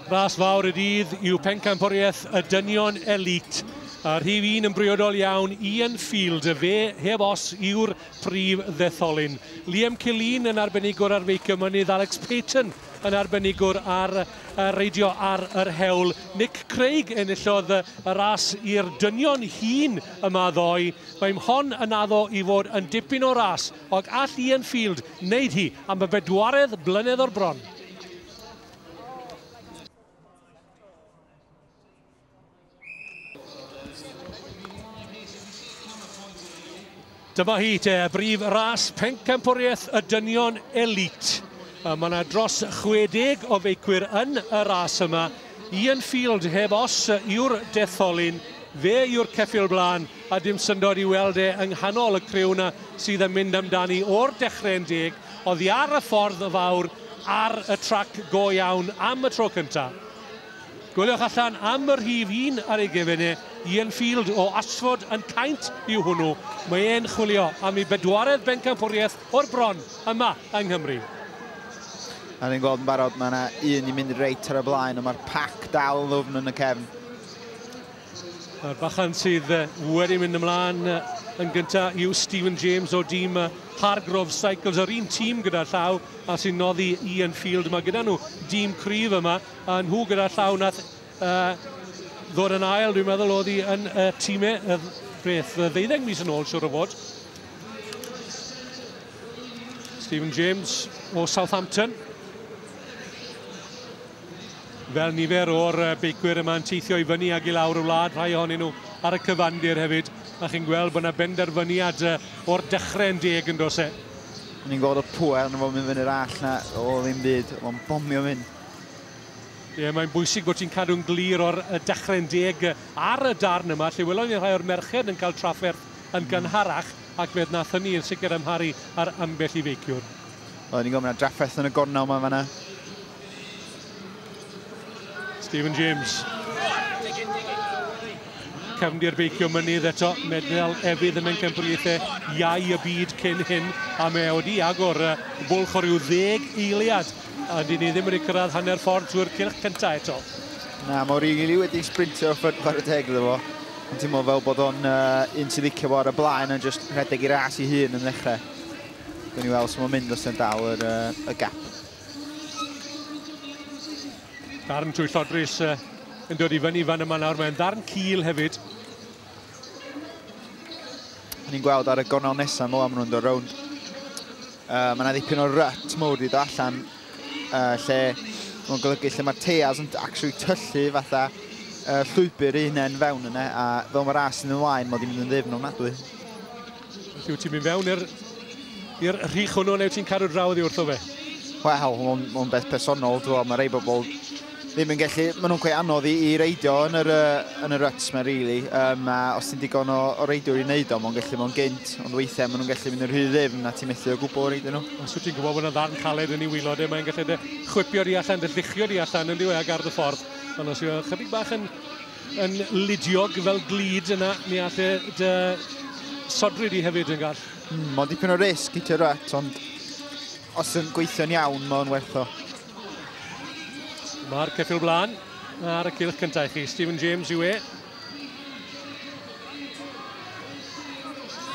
Ras fawr y dydd yw Pencampwriaeth y Dynion Elît, a rhif un yn briodol iawn i Enfield, fe heb os yw'r prif ddetholyn. Liam Killeen yn arbenigwr ar feicio mynydd, Alex Payton yn arbenigwr ar reidio ar yr hewl. Nick Craig enillodd y ras i'r dynion hŷn yma ddoe. Mae Mhon yn addo i fod yn dipyn o ras, ond all Ian Field wneud hi am y bedwaredd blynedd o'r bron. Dyma hi te, brif ras pencampwriaeth y dynion elit. Mae yna dros 60 o feicwyr yn y ras yma. Ian Field heb os yw'r detholyn, fe yw'r ceffil blaen, a dim syndod i weld e yng nghanol y criw yna sydd yn mynd amdani o'r dechrau'n deg. Oddi ar y ffordd fawr ar y trac go iawn am y tro cyntaf. Goliwch allan am y rhif un ar ei gefn e, Ian Field o Ashford yn Caint yw hwnnw. Mae e'n chwilio am ei bedwaredd bencampwriaeth o'r bron yma yng Nghymru. A ni'n gweld yn barod, mae yna un i mynd reit ar y blaen, ond mae'r pac dal yn ddwfn yn y cefn. A'r bachan sydd wedi mynd ymlaen yn gyntaf yw Stephen James o dîm Hargrove Cycles, yr un tîm gyda llaw a sy'n noddi Ian Field. Mae gyda nhw dîm cryf yma. A nhw gyda'r llaw nath uh, ddod yn ail, dwi'n meddwl, oedd hi yn y uh, tîm e, y beth, y ddeuddeg mis yn ôl, siwr o fod. Stephen James o Southampton. Fel nifer o'r uh, beicwyr yma'n teithio i fyny ag i lawr y wlad, rhai ohonyn nhw ar y cyfandir hefyd, a chi'n gweld bod yna benderfyniad uh, o'r dechrau'n deg yn dos e. Ni'n gweld y pwer yn fawr mynd fyny'r all na o ddim byd, o'n bomio mynd. Ie, mae'n bwysig bod ti'n cadw'n glir o'r dechre'n deg ar y darn yma, lle welon ni rhai o'r merched yn cael trafferth yn hmm. gynharach, ac fe wnaeth hynny yn sicr amharu ar ambell i feiciwr. Oedden ni'n gofyn ar drafferth yn y gornel yma fanna. Stephen James. Cefndir beicio mynydd eto, medal efydd y mencampriaethau iau y byd cyn hyn, a mae wedi agor bwlch o ryw ddeg eiliad A dyn ni ddim wedi cyrraedd hanner ffordd trwy'r cylch cyntaf eto. Na, mae Origili wedi sprintio o'r ffyrdd chwarae teg iddo fo. Yn teimlo fel bod o'n uh, un sy'n licio fo ar y blaen yn just rhedeg i ras i hun yn ddechrau. Gwyn ni weld sy'n o'n mynd os yn dal yr, uh, y gap. Darn trwy llodrus uh, yn dod i fyny fan yma nawr. Mae'n ddarn cil hefyd. Ni'n gweld ar y gornel nesaf mo am nhw'n dod rownd. Uh, mae yna ddipyn o rut mowr i ddo allan uh, lle mae'n golygu lle mae'r teas yn actually tyllu fatha uh, llwybr ei hunain fewn yna a fel mae'r as yn ymlaen mae wedi mynd yn ddifn ofnadwy. Felly wyt ti'n mynd fewn i'r i'r rhych hwnnw neu wyt ti'n cadw draw oddi wrtho fe? Wel, mae'n ma beth personol, dwi'n meddwl, mae rei bobl ddim yn gallu, maen nhw'n gweud anodd i, i reidio yn yr, yn yr ruts mae'n rili, really. um, a os ti'n digon o, o reidio i wneud o, mae'n gallu mae'n gynt, ond weithiau maen nhw'n gallu mynd yn rhy ddifn a ti'n methu o gwbl reidio nhw. Os wyt ti'n gwybod bod yna ddarn caled yn ei wylod e, mae'n gallu dy chwipio di allan, dy lluchio di allan yn diwy ag ardd y ffordd, ond os yw'n chydig bach yn yn ludiog fel glid yna, ni all e dy sodri di hefyd yn gall. Mm, mae'n dipyn o risg i Gerrett, ond os yn gweithio'n iawn, mae'n werth o. Mae'r ceffil blaen ar y cilch cyntaf i chi. Stephen James yw e.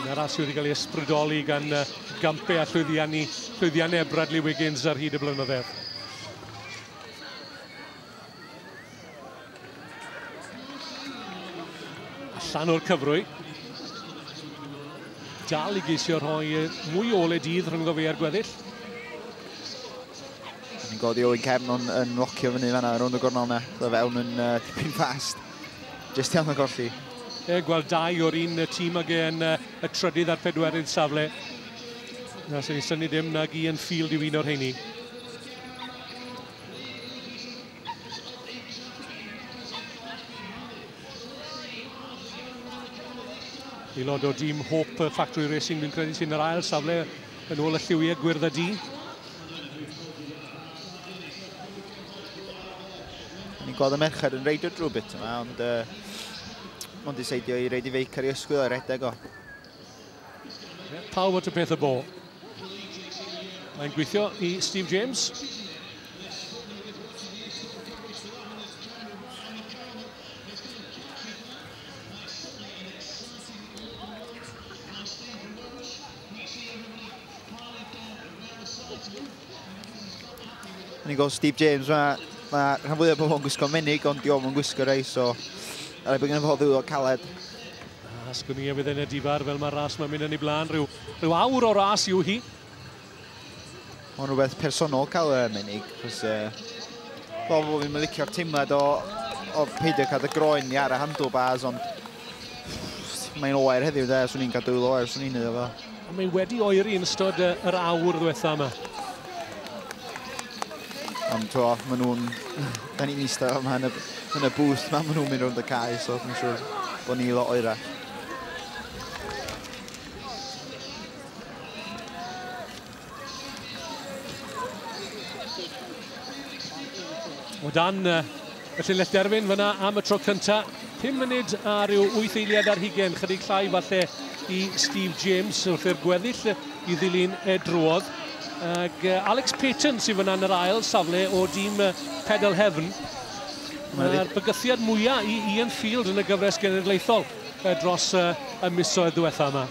Yn arall sydd wedi cael ei ysbrydoli gan uh, gampe a llwyddiannu, llwyddiannau Bradley Wiggins ar hyd y blynyddoedd. Allan o'r cyfrwy. Dal i geisio rhoi mwy o ole dydd rhwng fe a'r gweddill. Yn godi Owen Cefn ond yn locio fyny fanna rownd y gornel yna. Dda fewn yn uh, tipyn fast. Just iawn o golli. E, gweld dau o'r un tîm ag e'n uh, y trydydd a'r pedwerydd safle. Na, sy'n ei syni dim nag i yn ffil i un o'r heini. Aelod o dîm Hope Factory Racing, fi'n credu sy'n yr ail safle yn ôl y lliwiau gwyrdd a di. Ni'n gweld y merched yn reidio drwy bit yma, ond uh, ond diseidio i reid i feic ar ei ysgwyl a redeg o. Pawb at y peth y bo. Mae'n gweithio i Steve James. Ni'n gweld Steve James yma. Mae rhan fwyaf o bobl yn gwisgo menig, ond diolch yn gwisgo rei, so... Ar ei bod gen i fod ddwylo caled. A sgwni a fydd e'n edifar fel mae'r ras mae'n mynd yn ei blaen. Rhyw, rhyw awr o ras yw hi. Mae'n rhywbeth personol cael y menig. Chos, uh, fel bod fi'n licio'r teimlad o, o peidio cael y groen ni ar y handlebars, ond mae'n oer heddiw, de, swn i'n cadw oer, swn i'n iddo fo. Ond mae wedi oeri yn ystod yr awr ddiwetha yma. Ond to, maen nhw'n... Da ni'n eistedd yma yn y, yn y booth ma, maen nhw'n mynd rhwng y cae, so dwi'n siŵr bod ni lot oerach. O dan y llinell derfyn fyna am y tro cynta, 5 munud a rhyw 8 eiliad ar hugen, chydig llai falle i Steve James wrth i'r gweddill i ddilyn e drwodd. Ac Alex Payton sydd fyna yn yr ail safle o dîm Pedal Heaven. Mae'r bygythiad mwyaf i Ian Field yn y gyfres genedlaethol dros y misoedd diwetha yma.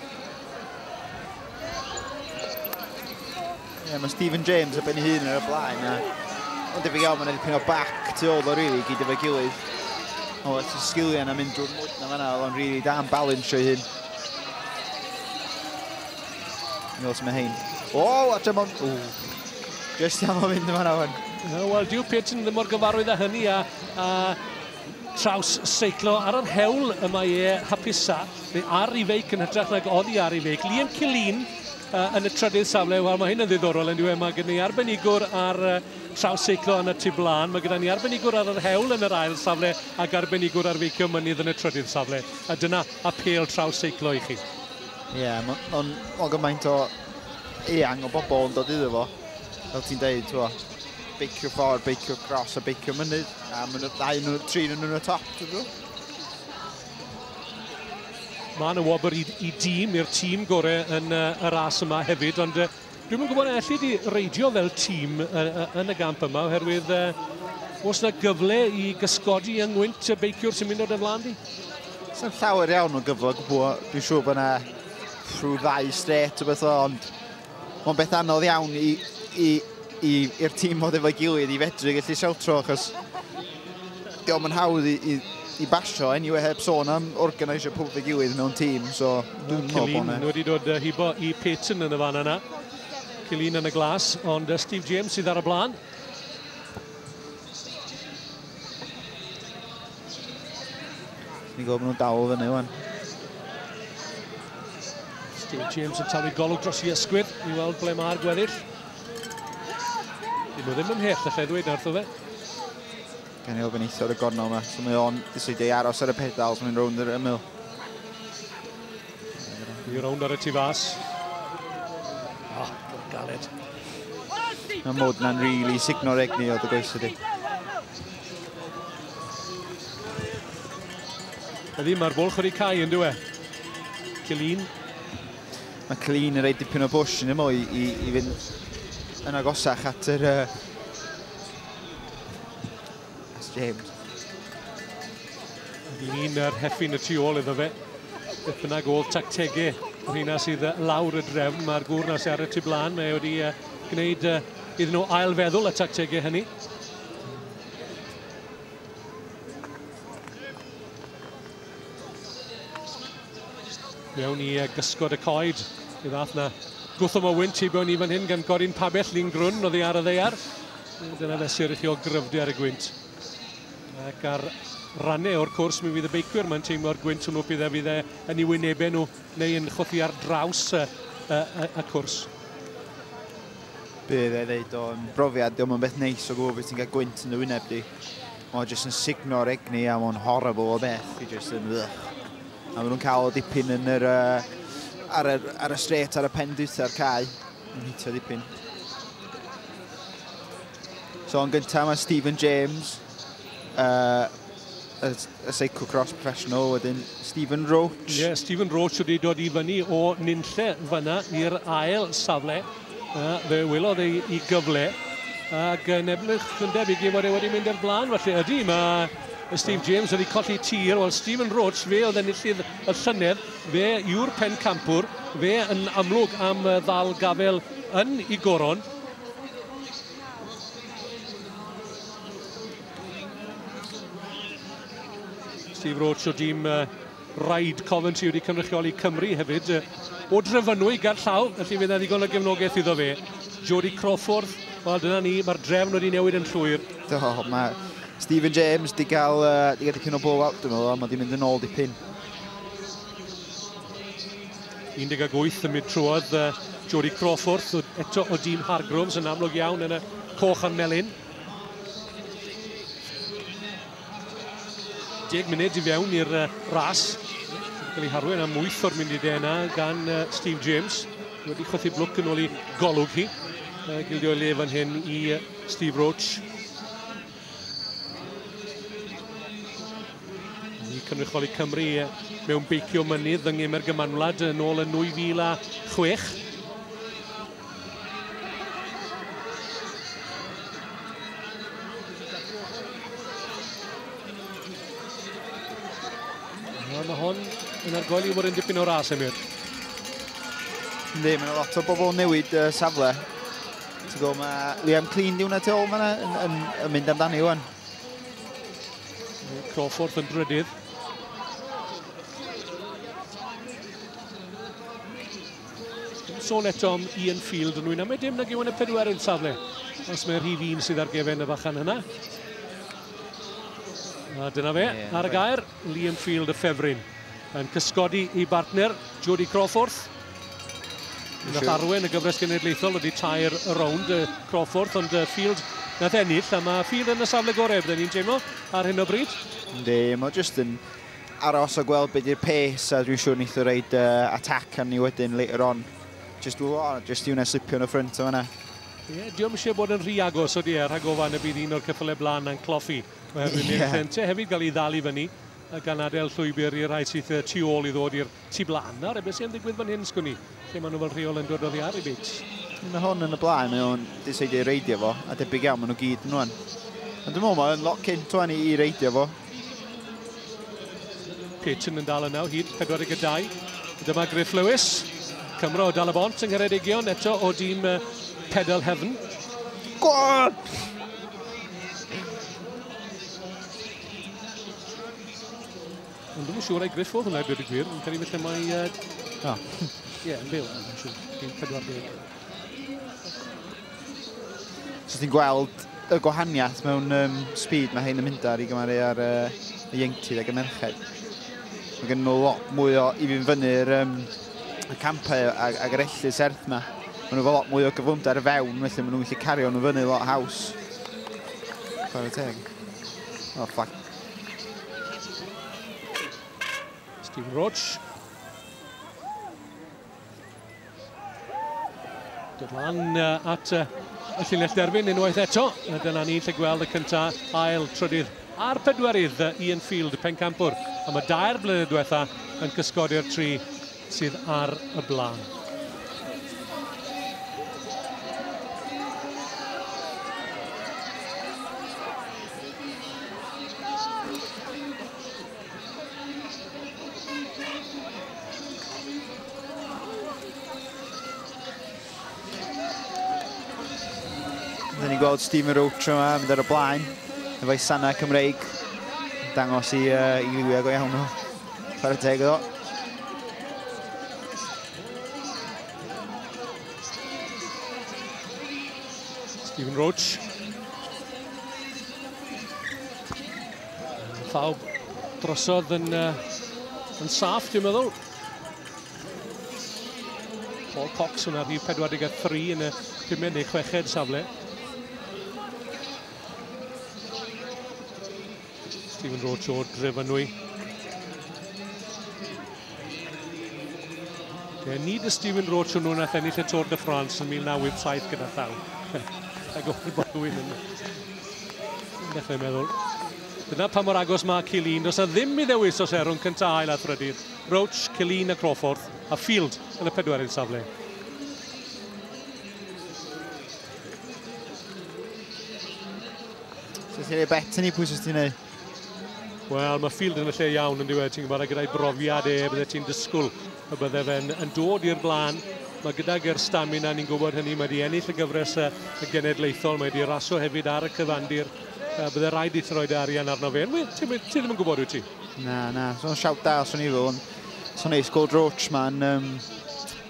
Yeah, mae Stephen James a ben ei hun ar y blaen. A... Mae'n debyg iawn, mae'n edrych o bac tu ôl o rili, gyd efo'i gilydd. O, lot o sgiliau yna mynd drwy'r mwyd na fanna, oedd o'n rili da yn balance o'i hun. Nôl sy'n mae hyn. O, a tra mae'n... O, just am o'n mynd yma na fan. Wel, dyw Pearson ddim mor gyfarwydd â hynny, a, a Traws seiclo ar yr hewl y mae e hapusa, neu ar ei feic yn hytrach nag oddi ar ei feic. Liam Killeen uh, yn y trydydd safle, wel mae hyn yn ddiddorol yn diwedd, mae gen i arbenigwr ar uh, traws seiclo yn y tu blaen, mae gyda ni arbenigwr ar yr hewl yn yr ail safle ac arbenigwr ar feicio mynydd yn y trydydd safle. A dyna apel traws seiclo i chi. Ie, yeah, mae'n ma, ma gymaint o eang o bobl yn dod iddo fo, fel ti'n deud, ti'n beicio ffordd, beicio gros a beicio mynydd. A maen nhw ddau nhw, tri nhw nhw'n y top, dwi'n dweud. Mae yna wobr i, i dîm, i'r tîm gore yn uh, y ras yma hefyd, ond uh, dwi'n yn gwybod allu di reidio fel tîm uh, uh, yn y gamp yma, oherwydd uh, os yna gyfle i gysgodi yng ngwynt y beiciwr sy'n mynd o'r ymlaen di? Sa'n llawer iawn o gyfle gwbl, dwi'n siŵr bod yna rhyw ddau stret o beth o, ond Mae'n beth anodd iawn i, i, i, i'r tîm fod efo'i gilydd i fedru gallu siawtro, achos di o'm yn hawdd i, i, i basio, anyway, heb sôn am organisio pwb ei gilydd mewn tîm, so dwi'n meddwl bod yna. wedi dod hibo i Peyton yn y fan yna. Cilin yn y glas, ond Steve James sydd ar y blaen. Ni'n gwybod bod nhw'n dal o fyny wan. Steve James yn talu golwg dros i ysgwyr i weld ble mae'r gweddill. Dyn nhw ddim ymhell, allai ddweud nartho fe. Gan i ofyn eithaf y gornel yma, so mae o'n diswydio i aros ar y pedal, so mae'n rownd yr ymyl. Ni rownd ar y tu fas. Ah, oh, galed. Mae mod na'n rili really signo'r egni o dy goes ydi. Ydy, mae'r bwlch wedi cael yn dweud. Cilin. Mae Cilin yn rhaid dipyn o bwys yn ymwy i, i, i fynd yn agosach at yr... Uh, That's James. Yn un ar heffin y tu ôl iddo fe. Beth bynnag ôl tactegau yr hynna sydd lawr y drefn. Mae'r gŵr na sy'n ar y tu blaen. Mae wedi gwneud iddyn nhw ailfeddwl y tactegau hynny. Mewn i gysgod y coed. I ddath na gwthom o wynt i bewn i fan hyn gan Gorin Pabell, Lin Grwn, oedd ei ar y ddeiar. Dyna fesur i chi o gryfdu ar y gwynt. Ac ar rannau o'r cwrs, mi fydd y beicwyr mae'n teimlo'r gwynt hwnnw bydd e fydd e yn ei wynebau nhw neu yn chwthu ar draws y, y, y, y cwrs bydd e ddeud o'n brofiad, diolch yn beth neis o gwybod beth ti'n cael gwynt yn dy wyneb di. Mae'n jyst yn signo'r egni a mae'n horrible o beth, i jyst yn wych. A maen nhw'n cael dipyn yn yr, uh, ar, y, ar y stret, ar y pen dwytha'r cae, yn hitio dipyn. So yn gyntaf mae Stephen James, uh, y, y seicw cross professional, wedyn Stephen Roach. Ie, yeah, Stephen Roach wedi dod i fyny o nynlle fyna i'r ail safle. Uh, fe wylodd ei, ei gyfle. Ac yn ebrych yn debyg i fod e wedi mynd i'r blaen, felly ydy, mae Steve James wedi colli tir. Wel, Stephen Roach, fe oedd enillydd y llynedd, fe yw'r pen campwr, fe yn amlwg am ddal gafel yn ei goron. Steve Roach o dîm uh, Ride Coventry wedi cynrychioli Cymru hefyd. O Drefynwy, ger llaw, felly fydd yna ddigon o gefnogaeth iddo fe. Jody Crawford, wel dyna ni, mae'r drefn wedi newid yn llwyr. Do, mae Stephen James di gael, uh, di gael dipyn o blow-out, dwi'n meddwl, mae di mynd yn ôl dipyn. 18 yn mynd trwodd Jodie Crawford, eto o dîm Hargroves yn amlwg iawn yn y coch a'r melyn. 10 munud i fewn i'r ras. Gael ei harwen am 8 o'r munud yna gan Steve James. Wedi chwythu blwc yn ôl i golwg hi. Gildio ei le fan hyn i Steve Roach. Ni cynrychioli Cymru mewn beicio mynydd yng Nghemer Gymanwlad yn ôl yn 2006. Mae hon yn argoli fod yn dipyn o ras, Emyr. Yndi, mae yna lot o bobl yn newid uh, safle. Ti'n gwybod, mae Liam Clean di hwnna tu ôl fanna yn, yn, yn mynd amdani wan. Crawford yn drydydd. sôn eto am Ian Field yn wyna. Mae dim nag yw yn y pedwer yn safle. Os mae'r rhif un sydd ar gefen y fachan yna. A dyna fe, yeah, ar y gair. Liam Field y ffefryn yn cysgodi i bartner Jody Crawforth. Nath arwen y gyfres genedlaethol wedi tair y rownd y Crawforth ond y Field nath ennill a mae Field yn y safle gorau byddwn ni'n teimlo ar hyn o bryd. Ynddi, mae jyst yn aros o gweld beth yw'r pace a dwi'n siŵr nith o reid uh, attack arni wedyn later on. Just, oh, just i wneud slipio yn y ffrynt o fanna. Ie, diolch eisiau bod yn rhy agos o di e, rhag ofan y bydd un o'r ceffylau blaen na'n cloffi. Oherwydd yeah. mae'n ffente hefyd gael ei ddal i fyny gan adael llwybr i'r rhai sydd tu ôl i ddod i'r tu blaen. Nawr, ebe sy'n digwydd fan hyn, sgwni, lle maen nhw fel rheol yn dod oddi ar ei bit. Mae hwn yn y blaen, mae o'n diseidio i reidio fo, a debyg iawn, maen nhw gyd yn o'n. Ond dwi'n meddwl mae'n lot cynt o'n i i reidio fo. Peyton yn dal yna o hyd 42. Dyma Griff Lewis. Cymro dal y bont yng Ngheredigion eto o dîm Pedal Heaven. Go on! Ond ddim yn siŵr ei griffodd hwnna i dweud y gwir, yn cael ei felly mae... Uh... Ah. Ie, yeah, yn byw, yn siŵr. Yn 40. So ti'n gweld y gwahaniaeth mewn um, speed mae hyn yn mynd ar i gymaru ar uh, y ieuenctid ac y merched. Mae gen nhw lot mwy o i fi'n fyny'r um, y campau ag, ag yr ellu serth yma. Mae nhw fel lot mwy o gyflymder fewn, felly maen nhw'n gallu cario nhw fyny lot haws. Chwarae teg. O, oh, flag. Steve Roach. Dod lan uh, at uh, y llinell derfyn unwaith eto. Dyna ni'n lle gweld y cyntaf ail trydydd A'r pedwar idd Ian Field, pencampwr, am y dair blynedd diwetha yn cysgodi'r tri sydd ar y blaen. Rydyn ni'n gweld Stephen Roach yma mynd ar y blaen efo'i sanau Cymreig. Dangos i, uh, i liwiau go iawn o. Chwarae teg iddo. Stephen Roach. Llaw drosodd yn, uh, yn saff, dwi'n meddwl. Paul Cox yn arni 43 yn y pumed neu chweched safle. Stephen Roach o'r gref ynwy. Ie, nid y Stephen Roach hwnnw nath ennill y Tour de France yn 1987 gyda llaw. Ac o'r bod rhywun yn dechrau meddwl. Dyna pa mor agos mae Cilin. Does na ddim i ddewis os erwn cyntaf ail a thrydydd. Roach, Killeen a Crawford, a Field yn y pedwerydd safle. Sut ti'n ei bet ni, pwy sy'n ti'n ei? Wel, mae Field yn y lle iawn yn diwedd, ti'n gwybod, gyda'i brofiad e, bydde ti'n dysgwyl y bydde fe'n yn dod i'r blaen. Mae gydag yr stamina, ni'n gwybod hynny, mae wedi ennill y gyfres y genedlaethol, mae wedi raso hefyd ar y cyfandir. Bydde rhaid i ti roed arian arno fe. Ti ddim yn gwybod wyt ti? Na, na, so siawt da os o'n i fo, ond so neis gweld Roach ma'n... Um,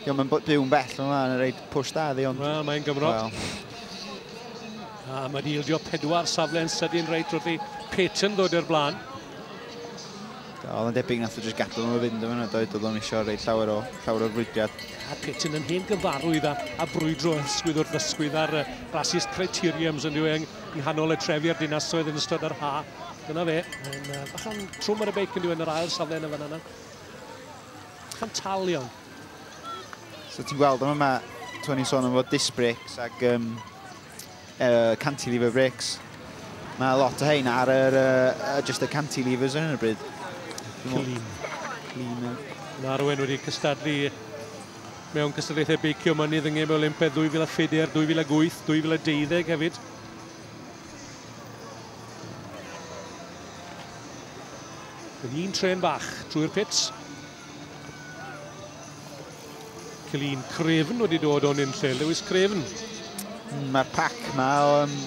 Dio, mae'n byw'n bell yma, yn rhaid pwys da ddi, ond... Wel, mae'n Gymro. Well. A mae wedi ildio pedwar safle'n sydyn reit wrth i Peyton ddod i'r blaen. Oedd yn debyg nath o jyst gadw nhw fynd yma, doedd oedd o'n eisiau rhaid llawer o llawer o'r brwydiad. A Peyton yn hen gyfarwydd a, a brwydro ysgwydd wrth ysgwydd ar uh, basis criteriums yn diwy yng nghanol y trefi a'r dinasoedd yn ystod yr ha. Dyna fe. Mae'n uh, bach yn trwm ar y beic yn diwedd yr ail safle yn y fan yna. Bach yn tal iawn. So ti'n gweld yma mae Tony sôn am fod disc brakes ac um, uh, cantilever brakes. Mae lot o hein ar yr, uh, just y cantilevers yn y bryd. Clean. Clean. Mae Arwen wedi cystadlu mewn cystadlaethau beicio mynydd yng Ngem Olympedd 2004, 2008, 2012 hefyd. Yn un tren fach trwy'r pits. Celin Crefn wedi dod o'n unlle, Lewis Crefn. Mm, Mae'r pac yma o um,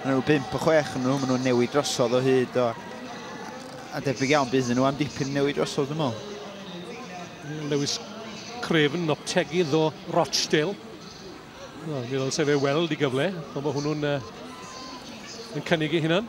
nhw 5 o 6 yn nhw, maen nhw'n newid drosodd o hyd o... A debyg iawn bydd nhw am dipyn newid drosodd, dwi'n meddwl. Lewis Crefn, optegydd o Rochdale. Wel, mi ddylse fe weld i gyfle, ond mae hwnnw'n uh, yn cynnig ei hunan.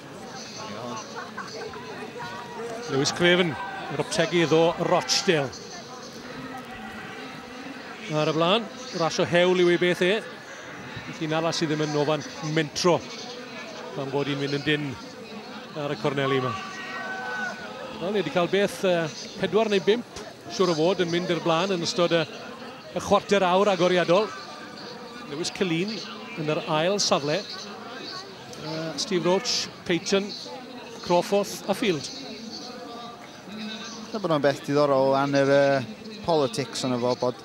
Lewis Craven, yr optegydd o Rochdale. Ar y flan, rasio hewl yw ei beth e. Felly nala sydd ddim yn ofan mentro pan bod hi'n mynd yn dyn ar y corneli yma. Wel, ni wedi cael beth uh, pedwar neu bimp, siwr o fod, yn mynd i'r blaen yn ystod y, y chwarter awr agoriadol. Lewis Cylun yn yr ail safle. Uh, Steve Roach, Payton, Crawforth a Field. Dyna bod o'n beth diddorol o yr uh, politics yna fo, bod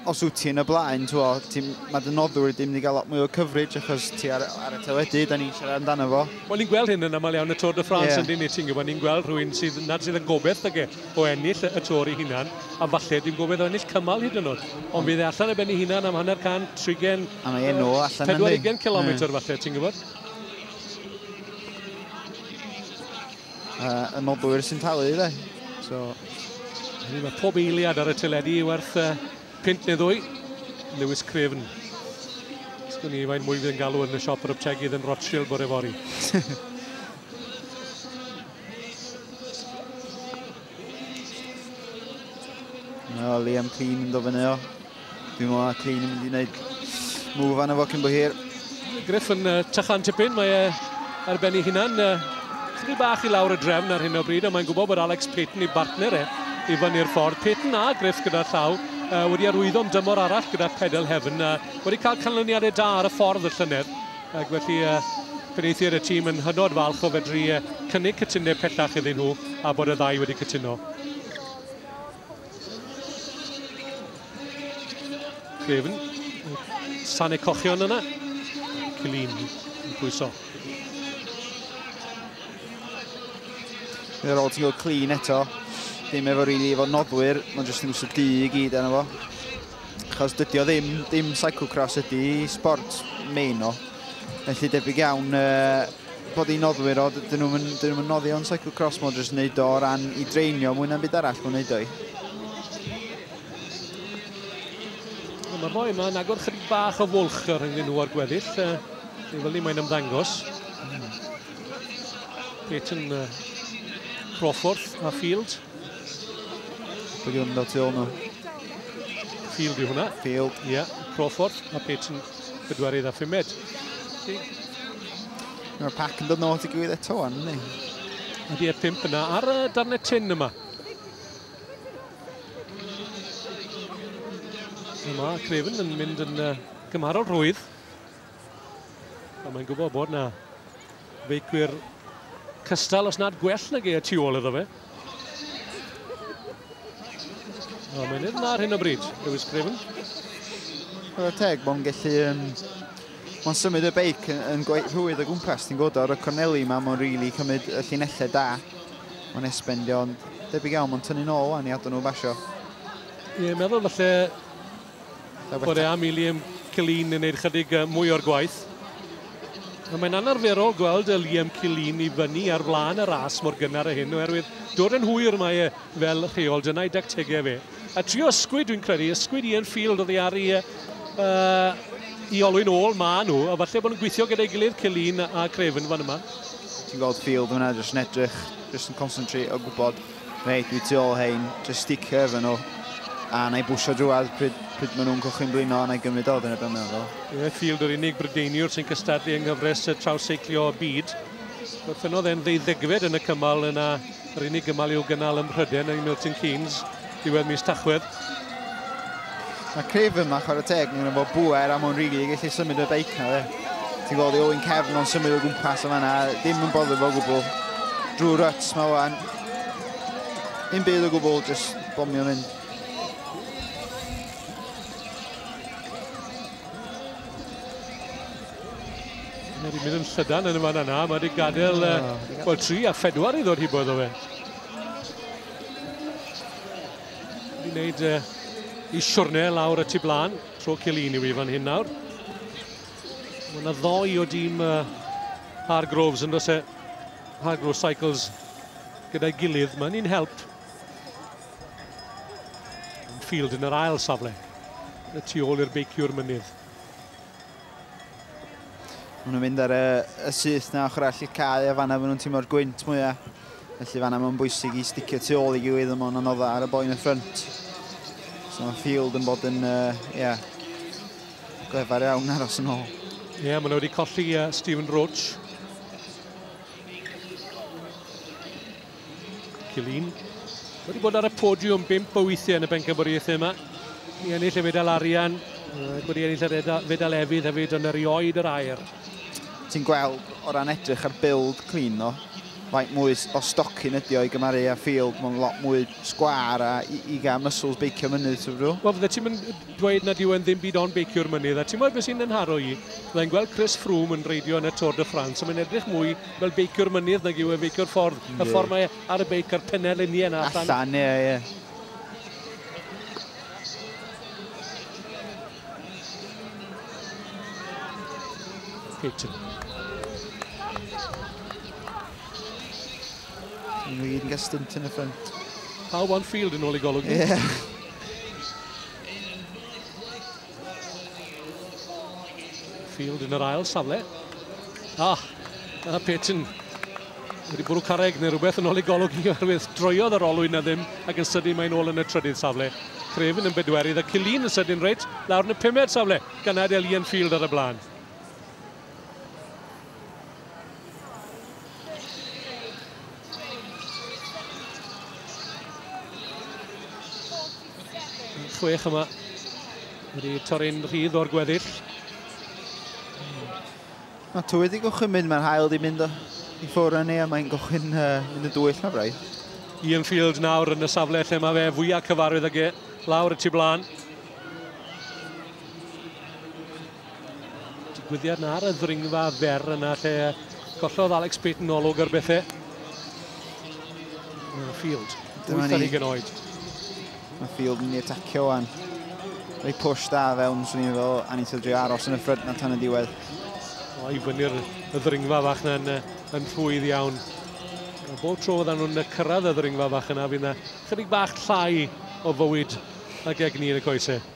os wyt ti yn y blaen, twa, ti, mae dy noddwr wedi mynd i gael lot mwy o coverage achos ti ar, ar y teledu, da ni'n siarad amdano fo. Wel, ni'n gweld hyn yn aml iawn y Tôr de France yeah. yn dyn ni, ti'n gwybod, ni'n gweld rhywun sydd nad sydd yn gobeith ag e o ennill y Tôr i hunan, a falle dwi'n gobeith o ennill cymal hyd yn oed. Ond bydd e allan ar ben ei hunan am hanner cant, trigen, A mae enw allan yn 40 kilometr falle, ti'n gwybod? Uh, y nodwyr sy'n talu, dde. So... Mae pob eiliad ar y teledu werth uh, pint neu ddwy. Lewis Craven. Sgwn i fain mwy fydd yn galw yn y siop yr yptegydd yn Rothschild bore fori. no, Liam Clean yn dofynu o. Dwi'n meddwl na Clean yn mynd i wneud move anna fo cyn bo hir. Griff yn uh, tychan tipyn, mae e ar ben ei hunan. Uh, Chydig bach i lawr y drefn ar hyn o bryd, a mae'n gwybod bod Alex Payton i bartner e i fyny'r ffordd. Peyton a Griff gyda llaw uh, wedi arwyddo am dymor arall gyda Pedal Heaven. Uh, wedi cael canlyniadau da ar y ffordd y llynedd. Ac felly uh, penaethiad y tîm yn hynod falch o fedru uh, cynnig cytundeb pellach iddyn nhw a bod y ddau wedi cytuno. Craven. Sane cochion yna. Cilin yn pwyso. Yr ôl ti'n gweld clean eto. Ddim efo rili really efo noddwyr, mae'n jyst yn gwsio du i gyd enw fo. Achos dydy o ddim, dim cyclocross ydy sport main o. Felly debyg iawn uh, bod i'n noddwyr o, dyn nhw'n mynd, dyn nhw'n noddi o'n cyclocross mo jyst wneud o ran i dreinio mwy na'm byd arall mwyn wneud o'i. Mae'r boi yma yn agor chydig bach o fwlch ar rhywun nhw o'r gweddill. Dwi'n fel ni mae'n ymddangos. Peyton uh, Crawford a Field. Dwi'n gwneud fel tu ôl nhw. Field yw hwnna. Field. Ie, yeah. Crawford. Mae Pate yn bedwarydd a phumed. Mae'r pac yn dod nôl ti gwybod eto, an, ni? Mae di e pimp yna ar y darnau tin yma. Yma, Craven yn mynd yn uh, gymharol rhwydd. Ond mae'n gwybod bod na feicwyr cystal os nad gwell nag e y tu ôl iddo fe. O, mae'n edrych ar hyn o bryd, Lewis Craven. Roedd teg, mae'n gallu... Um, mae'n symud y beic yn, yn rhwydd o gwmpas, ti'n gwybod, ar y corneli yma, mae'n rili really cymryd y llinellau da. Mae'n esbendio, ond debyg iawn, mae'n tynnu'n ôl wan i adon nhw basio. Ie, meddwl falle Bore am i Liam Killeen yn gwneud chydig mwy o'r gwaith. Mae'n anarferol gweld y Liam Cilin i fyny ar flaen y ras mor gynnar a hyn, oherwydd dod yn hwyr mae e fel rheol, dyna'i dactegau fe. A trio ysgwyd, dwi'n credu, ysgwyd Ian Field oedd i ar i, uh, i olwyn ôl, ma nhw, a falle bod nhw'n gweithio gyda'i gilydd Cilin a Craven fan yma. Ti'n gweld Field hwnna, jyst yn edrych, jyst yn concentrate o gwybod Reit, dwi tu ôl hein, just sticio efo nhw. A na i bwsio drwad pryd, pryd maen nhw'n cychwyn blino, na i gymryd o, dyna beth mae'n meddwl. Ie, Field yr unig Brydeiniwr sy'n cystadlu yng nghyfres y trawseiglio byd. Gorffennodd e'n ddeuddegfed yn y cymal yna, yr unig gymal i'w gynnal ym Mhryden yng Milton Keynes, diwedd mis Tachwedd. Mae Craven yma, chwarae teg, mae'n fo bwer am o'n rili gallu symud y beic na fe. Ti'n gweld i Owen Cefn o'n symud o gwmpas yma na, ddim yn boddo fo gwbl. Drwy ruts mae wan. Yn byd o gwbl, jyst bomio hyn. Mae wedi mynd yn llydan yn y fan yna. Mae wedi gadael uh, well, tri a phedwar i ddod hi bod o fe. Wedi wneud uh, i siwrne lawr y tu blaen. Tro Cilini i fan hyn nawr. Mae yna ddoi o dîm uh, Hargroves yn dod Hagro Cycles gyda'i gilydd. Mae'n un help. Field yn yr ail safle. Y tu ôl i'r beiciwr mynydd. Mae nhw'n mynd ar y, y syth na ochr all y cae a fanna maen nhw'n tîm o'r gwynt mwyaf. Felly fanna mae'n bwysig i sticio tu ôl i gilydd ond mae'n anoddau ar y boen y ffrynt. So mae Field yn bod yn, uh, yeah, glefar iawn aros yn ôl. Ie, yeah, maen nhw wedi colli uh, Stephen Roach. Cilin. Wedi bod ar y podiwm bimp o weithiau yn y bencampwriaethau yma. Ni ennill y fedal arian, wedi ennill y fedal efydd hefyd yn erioed yr air. Ti'n gweld o ran edrych ar build clean o, faint mwy o stocin ydi o i gymaru a field, mae'n lot mwy sgwar a i, i gael muscles beicio mynydd, ti'n rhyw? Wel, fydde ti'n mynd dweud nad yw e'n ddim byd ond beiciwr mynydd, a timod beth sy'n 'y nharo i? Fydda i'n gweld Chris Froome yn reidio yn y Tour de France, a mae'n edrych mwy fel beiciwr mynydd nag yw e feiciwr ffordd, y ffordd mae e ar y beic a'r pennerliniau yna allan. Allan, ie, ie. Peyton. Yn wir yn gael stint yn y ffrind. Pawb on field yn ôl i golwg. Ie. James, yn y North West Varsity Awards a megis y... Field yn yr ail safle. Ah, a Peyton wedi bwrw carreg neu rhywbeth yn ôl ei golwg i oherwydd droiodd yr olwyn na ddim ac yn sydyn mae'n ôl yn y trydydd safle. Craven yn bedwerydd a Killeen yn sydyn reit lawr yn y pumed safle gan adael Ian Field ar y blaen. chwech yma. Wedi torri'n rhydd o'r gweddill. Mae twy wedi gochyn mynd, mae'r hael wedi mynd i ffwrdd yn ei, a mae'n gochyn uh, mynd yn dwyll na braidd. Ian Field nawr yn y safle lle mae fe fwyaf cyfarwydd ag e, lawr y tu blaen. Digwyddiad na ar y ddringfa fer yna lle gollodd Alex Payton olwg ar bethau. Mae Field, wyth ar ugen oed. Mae Field yn mynd i atacio o'n. Rhoi push da fewn, swn i'n fel, a ni'n syldio aros yn y ffryd na tan y diwedd. O, i fyny'r y ddringfa fach na'n yn rhwydd iawn. Bob tro oedden nhw'n cyrraedd y ddringfa fach yna, fydd yna chydig bach llai o fywyd ag egni yn y coesau.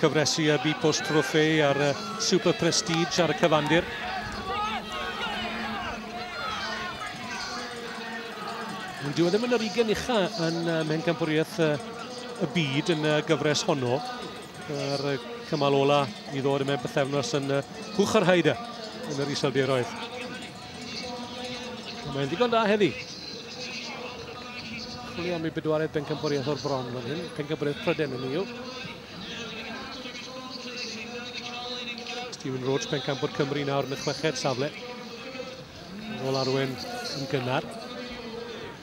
Cyfres y Bipos Trophée a'r Super Prestige ar y cyfandir. Ond dyw e ddim yn yr ugen ucha yn Mhencampwriaeth y Byd yn y gyfres honno. Yr cymal ola i ddod yma bythefnos yn Hwch ar Haida yn yr Iseldiroedd. Mae'n ddigon da heddi. Chwilio am ei bedwaredd bencampwriaeth o'r bron fan hyn. Pencampwriaeth Pryden yn yw. Stephen Roach, pencampwr Cymru nawr yn y chweched safle. Yn ôl arwen yn gynnar.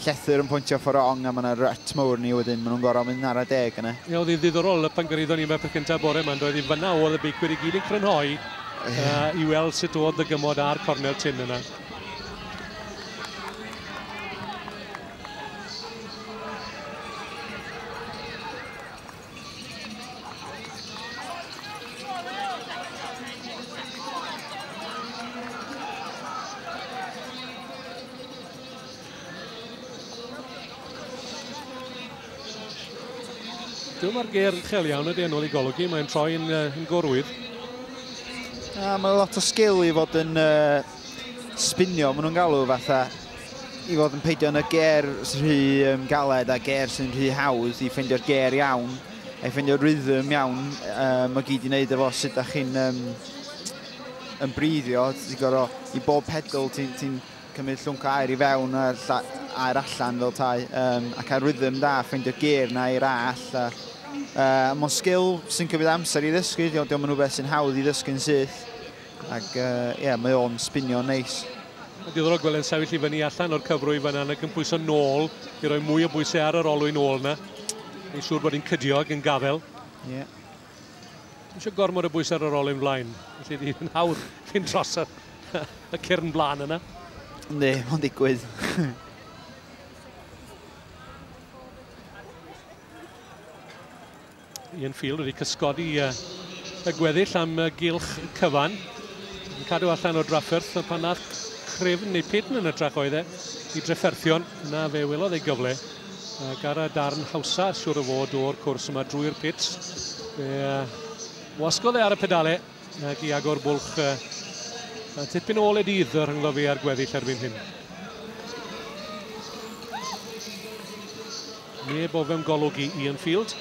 llethr yn pointio ffor rong a ma na rut mowr ni wedyn ma nhw'n goro mynd ar y deg yna. Ie oedd hi'n ddiddorol pan gyrhaeddon ni Merthyr Cyntaf bore ma doedd hi fynna oedd y beicwyr i gyd yn crynhoi yy i weld sut oedd y gymod a'r cornel tin yna. Dwi'n mae'r ger uchel iawn ydy yn ôl i golygu, mae'n troi yn, uh, yn gorwydd. A mae lot o sgil i fod yn uh, spinio, maen nhw'n galw fatha i fod yn peidio yn y ger sy'n rhy um, galed a ger sy'n rhy hawdd i ffeindio'r ger iawn a i ffeindio'r rhythm iawn um, mae gyd i wneud efo sut da chi'n um, yn breiddio ti'n gorfod i bob pedal ti'n ti cymryd llwnc o aer i fewn a aer allan fel tai, um, a cael rhythm da, ffeindio geir na i'r all. A, uh, Mae'n sgil sy'n cymryd amser i ddysgu, diolch diolch yn rhywbeth sy'n hawdd i ddysgu'n syth. Ac ie, uh, yeah, mae o'n spinio neis. Nice. Diddorol gweld yn sefyll i fyny allan o'r cyfrwy fyna ac yn pwyso nôl i roi mwy o bwysau ar yr olwyn ôl yna. Mae'n siŵr bod hi'n cydio ac yn gafel. Ie. Yeah. Dim eisiau gormod o bwys ar yr olyn flaen, felly di yn hawdd cyn tros y, y cyrn blaen yna. Ne, mae'n digwydd. Ian Field wedi cysgodi uh, y gweddill am uh, gylch cyfan. Yn cadw allan o drafferth pan nath crefn neu pidn yn y trac oedd e i drefferthion. Na fe welodd ei gyfle. Ac ar y darn hawsa, siwr o fod, o'r cwrs yma drwy'r pits. Fe wasgodd e ar y pedale ac i agor bwlch a tipyn ôl e dydd y rhyngddo fi ar gweddill erbyn hyn. Neb o fewn golwg i Ian Field.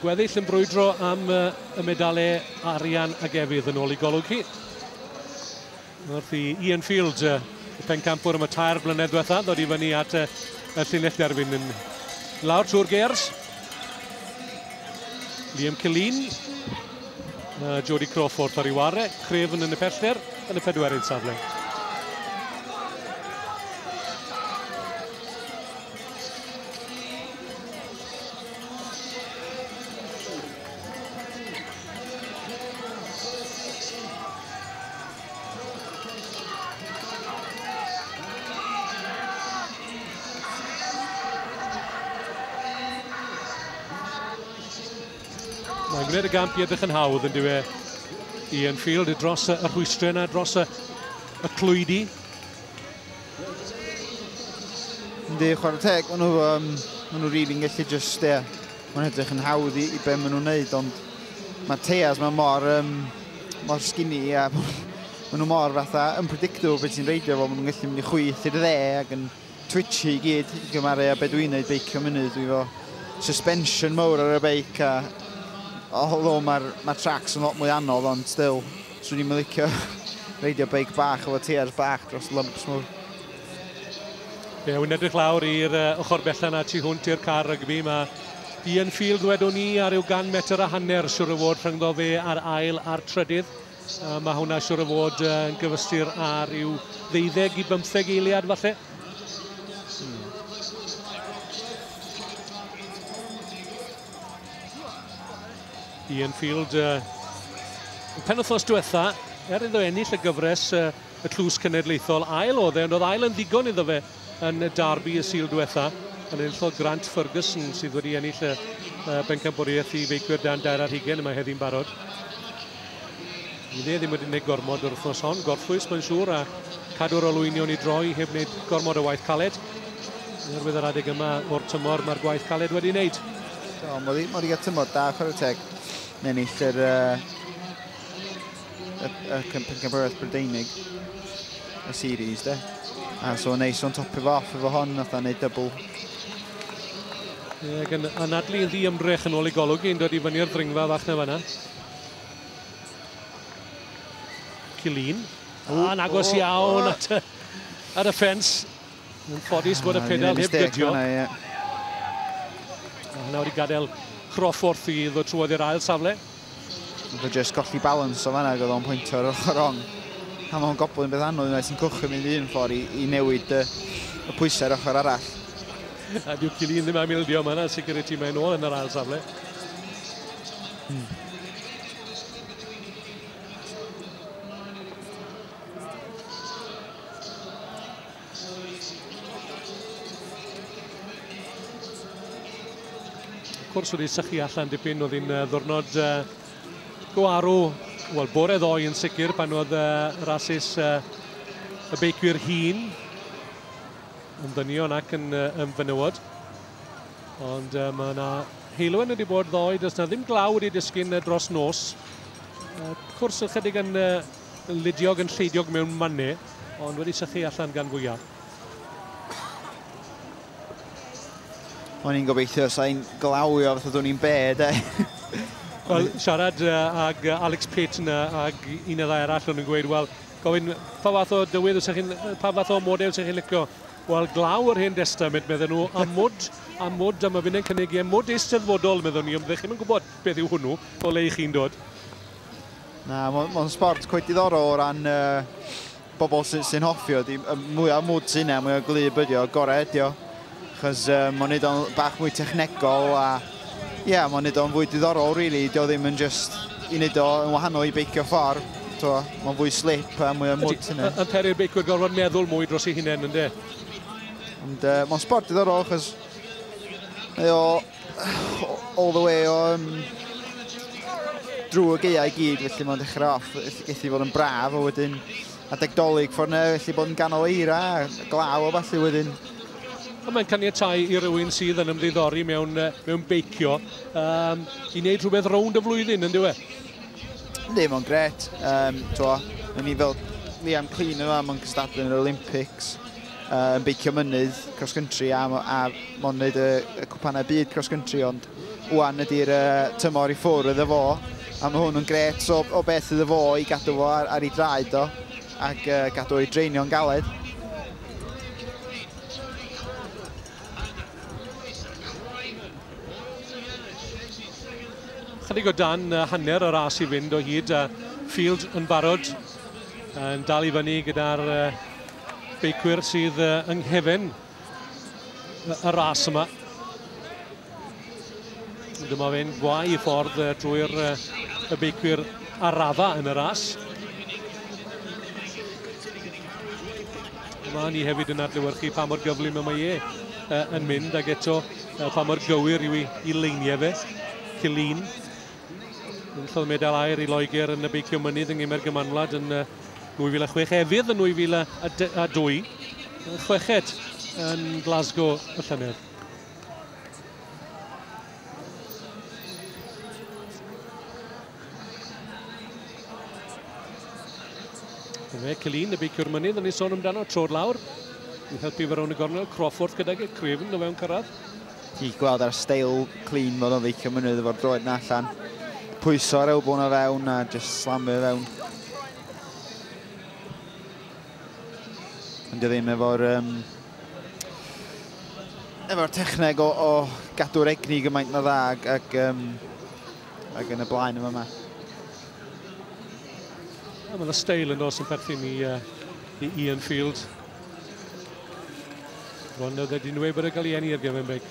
Gweddill yn brwydro am y medalau arian ag efydd yn ôl i golwg chi. Wrth i Ian Field, y pencampwr am y tair blynedd diwetha, ddod i fyny at y llinell derfyn yn lawr trwy'r gers. Liam Killeen Mae Jody Crawford ar ei ware, Craven yn y pellter yn y pedwerydd safle. Mae'n gwneud y gamp i edrych yn hawdd yn diwe i Enfield dros y rhwystrau yna, dros y, y clwydi. Yndi, chwarae teg, maen nhw, um, maen nhw rili'n really gallu just, ie, yeah, mae'n edrych yn hawdd i, i be maen nhw'n neud, ond mae Teas mae mor, um, mor skinny a maen nhw mor fatha unpredictable beth sy'n reidio fo, maen nhw'n gallu mynd i chwyth i'r dde ac yn Twitchy i gyd i gymaru â be dwi'n neud beicio mynydd dwi efo suspension mowr ar y beic a although ma'r ma' tracs yn lot mwy anodd ond still swn i'm yn licio reidio beic bach efo teiars bach dros lumps mowr. Ie, yeah, wy'n edrych lawr i'r uh, ochr bella na tu hwnt i'r car rygbi. Mae Ian Field, wedwn ni, ar ryw gan metr a hanner, siwr y fod rhyngddo fe a'r ail a'r trydydd. Uh, mae hwnna siwr o fod uh, yn gyfystyr ar i'w ddeuddeg i bymtheg eiliad falle. Hmm. Ian Field, uh, pen wythnos diwetha, er iddo ennill y gyfres uh, y tlws cenedlaethol ail oedd e, ond oedd ail yn ddigon iddo fe yn y Derby y Sul diwetha, yn enillodd Grant Ferguson sydd wedi ennill y bencampwriaeth i feicwyr dan dair ar hugen yma heddi'n barod. Fydd e ddim wedi gwneud gormod o'r wythnos hon, gorffwys mae'n siŵr a cadw'r olwynion i droi heb wneud gormod o waith caled. Oherwydd yr adeg yma o'r tymor mae'r gwaith caled wedi wneud. Do, mod i, mod i gael tymor da, chwarae teg. Yn ennill yr uh, y, y pencampwriaeth Brydeinig y series de. A so neis o'n topio fo off efo hon, nath o'n neud dybl. Ie, gan anadlu yn ddi ymdrech yn ôl i golwg i'n dod i fyny'r ddringfa fach na fanna. Cilin. A'n agos iawn at y, ar y ffens. Yn ffodus bod y pedal heb gydio. Nawr i gadael Crawford i ddod trwodd i'r ail safle. Fe jyst golli balans o fanna, gyda'n pwynt o'r ochr rong. A mae'n gobl yn beth anodd yna sy'n cwchym mynd un ffordd i, i newid y, y pwysau'r ochr arall. A dyw Cilin ddim am ildio yma, yna sicr y tîm mae'n ôl yn yr ail safle. Hmm. Wrth gwrs wedi sychu allan dipyn oedd hi'n ddwrnod uh, go arw, wel bore ddoe yn sicr pan oedd uh, rasus uh, y beicwyr hun yn ddynion ac yn uh, ymfenywod. Ond uh, mae yna heilwen wedi bod ddoe, does na ddim glaw wedi disgyn uh, dros nos. Uh, cwrs ychydig yn uh, Ludiog yn lleidiog mewn manne, ond wedi sychu allan gan fwyaf. O'n i'n gobeithio sa'n glawio fath oeddwn i'n bed, e? Wel, siarad ag Alex Pitt yna ag un neu ddau arall o'n i'n gweud, wel, gofyn pa fath o dywydd sy'n chi'n, pa fath o model sy'n chi'n licio. Wel, glaw yr hen destament, medden nhw, a mwd, a mwd, a mae fynd yn cynnig i, a mwd eisteddfodol, meddwn ni, ond ddech chi'n gwybod beth yw hwnnw, o le i chi'n dod. Na, mae'n sport cweit diddorol o ran bobl sy'n hoffi o. Mwy o mwd sy'n yna, mwy o glyb ydi o, gorau ydi o. Chos mae'n neud o'n bach mwy technegol a ie, mae'n neud o'n fwy diddorol, really. Dio ddim yn just i neud o yn wahanol i beicio ffordd. Mae'n fwy slip a mwy o mwd sy'n yna. Yn peri'r beicwyr gorfod meddwl mwy dros ei hunain, ynddo? Ond mae'n sport diddorol, chos mae o all the way o um, drwy y geiau i gyd, felly mae'n dechrau off, geth i fod yn braf, a wedyn adeg dolyg ffordd yna, felly bod yn ganol eira, glaw o falle wedyn. Ond mae'n caniatau i rywun sydd yn ymddiddori mewn, mewn beicio um, i wneud rhywbeth rownd y flwyddyn, yn diwe? Ddim ond gret. Um, to, ni fel Liam Clean yma, mae'n gystadlu yn yr Olympics. uh, yn beicio mynydd cross country a, a mon wneud y, y cwpanau byd cross country ond wwan ydy'r uh, tymor i ffwrdd iddo fo a mae hwn yn gret o, o beth iddo fo i gadw fo ar, ar ei draed o ac uh, gadw o'i dreinio'n galed. Chydig o dan uh, hanner y ras i fynd o hyd a uh, Field yn barod Yn dal i fyny gyda'r beicwyr sydd yng nghefen y ras yma. Dyma fe'n gwau i ffordd drwy'r y beicwyr ar radda yn y ras. Mae ni hefyd yn adlewyrchu pa mor gyflym y mae e yn mynd ac eto pa mor gywir yw i, i leiniau fe. Cilin Enillodd medal aer i Loegr yn y beicio mynydd yng Nghemer Gymanwlad yn 2006, efydd yn 2002, chweched yn Glasgow y llynedd. Dyna Celin, y beiciwr mynydd, yn ei sôn amdano, tro'r lawr, yn helpu fe rown y gornel, Crawford gydag y crefn o fewn cyrraedd. Ti'n gweld ar y steil clean fod o'n feicio mynydd efo'r droed na allan. Pwyso ar elbow na fewn a just slamio fewn. Ond dwi ddim efo'r um, efo'r techneg o, o gadw'r egni gymaint na dda ag, ag, um, ag yn y blaen yma yma. Mae'n y steil yn os yn perthyn i, uh, i Ian Field. Ron oedd wedi nwy bod y galienni i'r Gavin Big.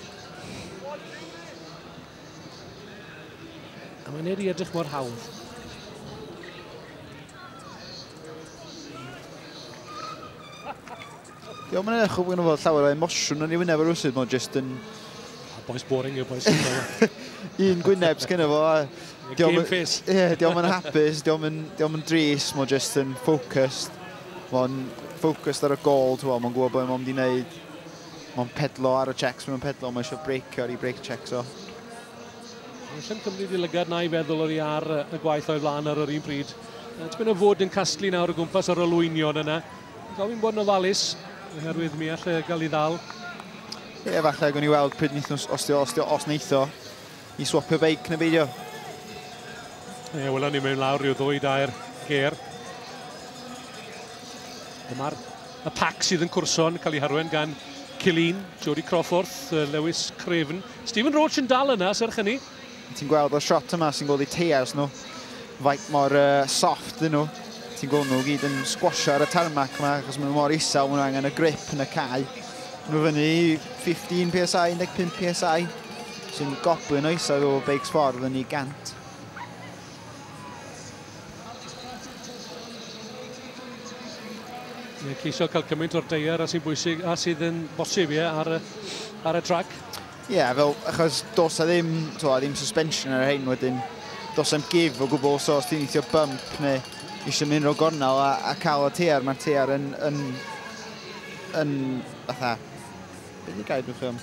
A mae'n ei edrych mor hawdd. Diolch yn eich o fod llawer o emosiwn yn ei wyneb ar wrsydd, mae'n just yn... A boes boring yw boes. Un gwyneb sgynno fo. Game face. Ie, diolch yn hapus, diolch yn dris, mae'n just yn focused. Mae'n focused ar y gol, ti'n gwybod, mae'n gwybod beth mae'n mynd i wneud. Mae'n pedlo ar y checks, mae'n pedlo, mae eisiau breakio ar ei break checks o. Mae'n llym cymryd i lygad na i feddwl o'r i ar y gwaith o'i flaen ar yr un pryd. Tipyn o fod yn casglu nawr o gwmpas yr olwynion yna. Gofyn bod yn ofalus, oherwydd mi allai gael ei ddal. Ie, falle, gwn i weld pryd wnaethon, os, os, os, os wnaetho. I swapio beic neu beidio? Ie, yeah, welwn ni mewn lawr rhyw ddwy dair ger. Dyma'r y pac sydd yn cwrso'n cael ei harwen gan Cilin, Jody Crawford, Lewis Craven. Stephen Roach yn dal yna, serch hynny. Ti'n gweld y shot yma sy'n gweld i teiars nhw. Faint mor uh, soft dyn nhw. Ti'n gweld nhw gyd yn squasho ar y tarmac yma, achos maen nhw mor isel, maen nhw angen y grip yn y cae. Nhw fyny 15 PSI, 15 PSI. Sy'n gopio'n oesau o beic sborf yn ei gant. Mae'n ceisio cael cymaint o'r deiar a sy'n bwysig a sydd yn bosib ie, ar, ar y trac. Ie, yeah, fel, achos dos a ddim, to, a ddim suspension ar hyn wedyn, dos am gif o gwbl os oes ti'n eithio bump neu eisiau mynd o gornel a, a cael y teiar, mae'r teiar yn, yn, yn, fatha, beth i gael dwi'n chym?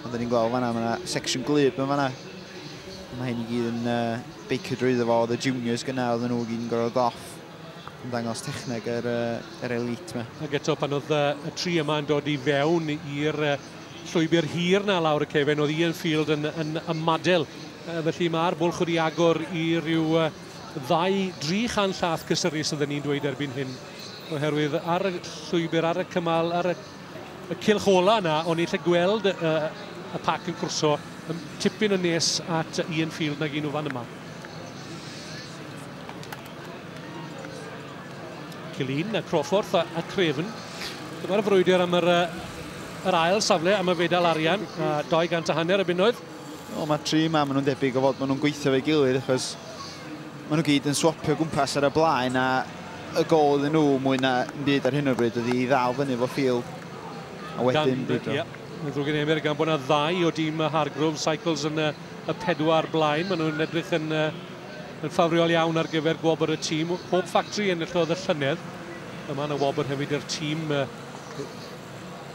Ond ni'n gweld fanna, mae yna section glib yn fanna. Mae hyn i gyd yn uh, beicio drwy iddo fo, oedd y juniors gyna, oedd nhw gyd yn gorfod goff. Yn dangos techneg yr, uh, yr elite yma. Ac eto pan oedd uh, y tri yma yn dod i fewn i'r uh, llwybr hir na lawr y cefen, oedd Ian Field yn, yn ymadel. Uh, felly mae'r bwlch wedi agor i ryw uh, ddau, dri chan llath cysyru sydd yn ni'n dweud erbyn hyn. Oherwydd ar y llwybr, ar y cymal, ar y y cylch ola yna, o'n i'n lle gweld y, y, y pac yn cwrso tipyn yn nes at Ian Field nag un o fan yma. Cilun a Crawford a, a Craven. Dyma'r frwydr am yr, yr ail safle am y fedal arian, a 200 a hanner y bunnoedd. O, mae tri yma, maen nhw'n debyg o fod maen nhw'n gweithio fe gilydd, achos maen nhw gyd yn swapio gwmpas ar y blaen, a y gol iddyn nhw mwy na yn byd ar hyn o'r bryd ydy i ddal fyny efo ffil a wedyn brwydro. Ie, yn ddrwg gen i Emyr, gan bod yna ddau o dîm Hargrove Cycles yn y, y pedwar blaen. Maen nhw'n edrych yn, uh, yn ffafriol iawn ar gyfer gwobr y tîm. Hope Factory enillodd y llynedd. Yma yn y wobr hefyd i'r tîm uh,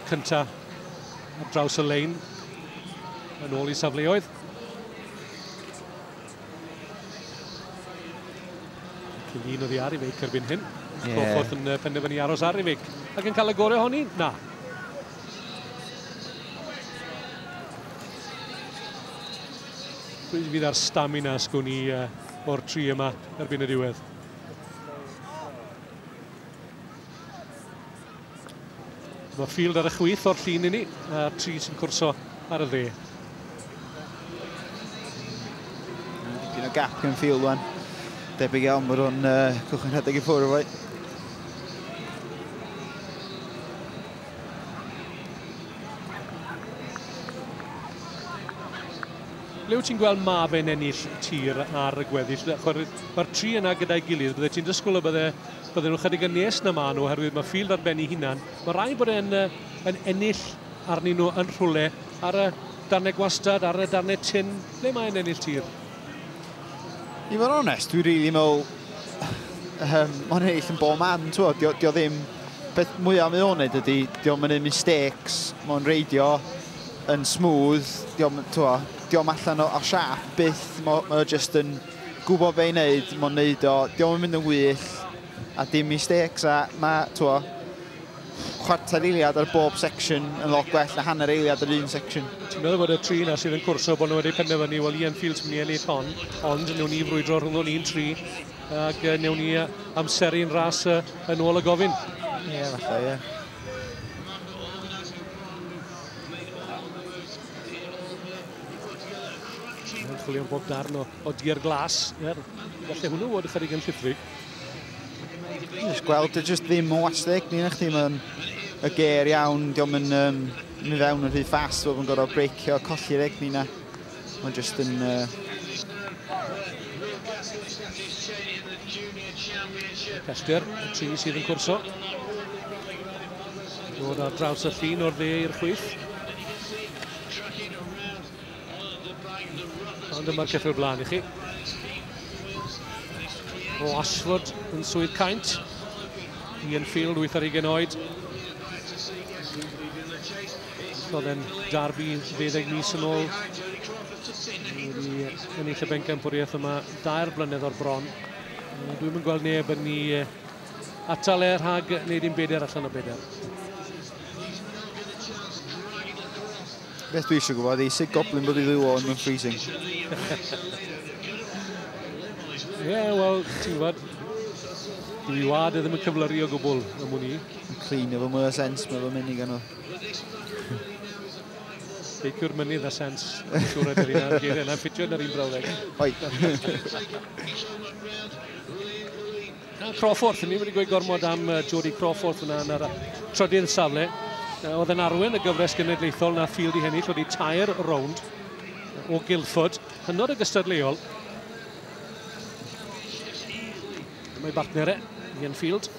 cynta ar draws y lein yn ôl i safleoedd. Cyn un oddi ar Ifeic erbyn hyn. Yeah. Cochwrth yn penderfynu aros ar Ifeic. Ac yn cael y gorau honi? Na. Rwy'n fydd ar stamina sgwn i uh, o'r tri yma erbyn y diwedd. Mae Field ar y chwith o'r llun inni, a tri sy'n cwrso ar y dde. Dipyn o gap yn Field wan. Debyg iawn bod o'n uh, cychwyn rhedeg i ffwrdd o'i. Le wyt ti'n gweld ma fe'n ennill tir ar y gweddill? Mae'r tri yna gyda'i gilydd, bydde ti'n dysgwyl y bydde Bydden nhw chydig yn nes na maen nhw oherwydd mae Field ar ben ei hunan. Mae rhaid bod e'n uh, yn ennill arnyn nhw yn rhwle ar y darnau gwastad, ar y darnau tin, ble mae'n ennill tir. I fod onest, dwi'n rili really meddwl, um, mae'n ennill yn bob man, ti'n fawr, dio ddim, beth mwyaf mae o'n gwneud ydy, diolch yn ei mistakes, mae'n reidio yn smooth, diolch, ti'n fawr, diolch allan o, o siap byth, mae'n ma just yn, gwbo be i neud mond neud o 'di o'm yn mynd yn wych a dim mistakes a ma' t'wo' chwarter eiliad ar bob section yn lot gwell na hanner eiliad ar un section. Ti'n meddwl bod y tri 'na sydd yn cwrso bod nhw wedi penderfynu wel Ian Fields mynd i ennill hon ond newn ni frwydro rhwngddo ni'n tri ac yy newn ni amseru'n ras yy yn ôl y gofyn? Ie yeah, falle ie. Yeah. Mae'n chwilio am bob darn o, o dier glas. Er, gallu hwnnw fod ychydig yn llithrig. Just gweld, dwi just ddim yn wastig. Ni'n eich ddim yn y ger iawn. Diolch yn um, mi fewn yn rhy ffas. Dwi'n gorfod breicio, colli'r egni na. Mae'n just yn... Uh... Pellter, y tri sydd yn cwrso. Dod ar draws y llun o'r dde i'r chwyth. Ond dyma'r cyffur blaen i chi. O Ashford yn swydd caint. Ian Field, 8 ar 20 oed. Oedd e'n darbu 20 mis yn ôl. Wedi ennill y bencampwriaeth yma dair blynedd o'r bron. Dwi'n mynd gweld neb yn ni Atal e rhag wneud un beder allan o beder. Beth dwi eisiau gwybod i sut goblin bod i ddiw o'n yn freezing. Ie, yeah, wel, ti'n gwybod, dwi wad e ddim yn cyflyru o gwbl y mwyn i. Yn clean efo mwy o sens, mae fy mynd i ganol. Beiciwr mynydd a sens, siwr ydych chi'n geiriau, na'n ffitio yn yr un brawddeg. Oi. Na, Crawforth, ni wedi gweud gormod am Jody Crawforth yna yn yr trydydd safle. Oedd yn arwen y gyfres genedlaethol na Field i hennill, oedd i tair rownd o Guildford, hynod y gystadleuol. Mae bartner e, Ian Field.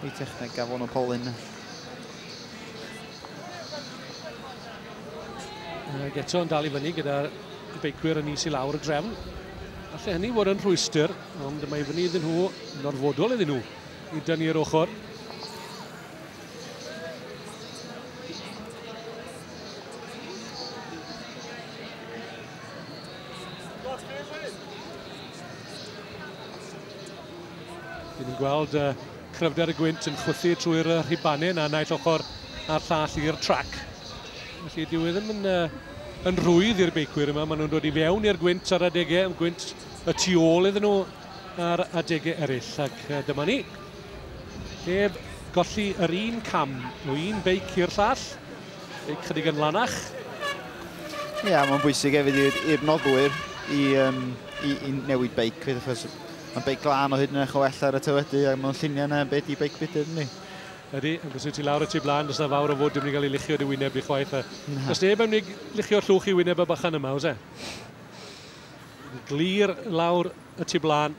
Ei techneg gafon o Polyn. Ac eto yn dal i fyny gyda beicwyr yn is i lawr y drefn. Alla hynny fod yn rhwystr, ond mae fyny iddyn nhw, yn orfodol iddyn nhw, i dynnu'r ochr. Dyn ni'n gweld uh, cryfder y gwynt yn chwythu trwy'r uh, rhibanyn a naill ochr a'r llall i'r trac. Felly dyw e ddim yn, uh, yn rhwydd i'r beicwyr yma. Maen nhw'n dod i fewn i'r gwynt ar adegau, yn gwynt y tu ôl iddyn nhw ar adegau eraill. Ac uh, dyma ni. Heb golli yr un cam o un beic i'r llall. Beic chydig yn lanach. Ie, yeah, mae'n bwysig hefyd i'r noddwyr i, um, i, i newid beic. Achos Mae'n beic glân o hyd yn eich o ellau ar y teledu a mewn lluniau yna yn be di beic budr yndi? Ydy, ond os wyt ti lawr y tu blaen, does na fawr o fwd yn mynd i gael ei luchio dy wyneb di chwaith a does neb yn mynd i luchio llwch i wyneb y bychan yma, oes e? Glir lawr y tu blaen.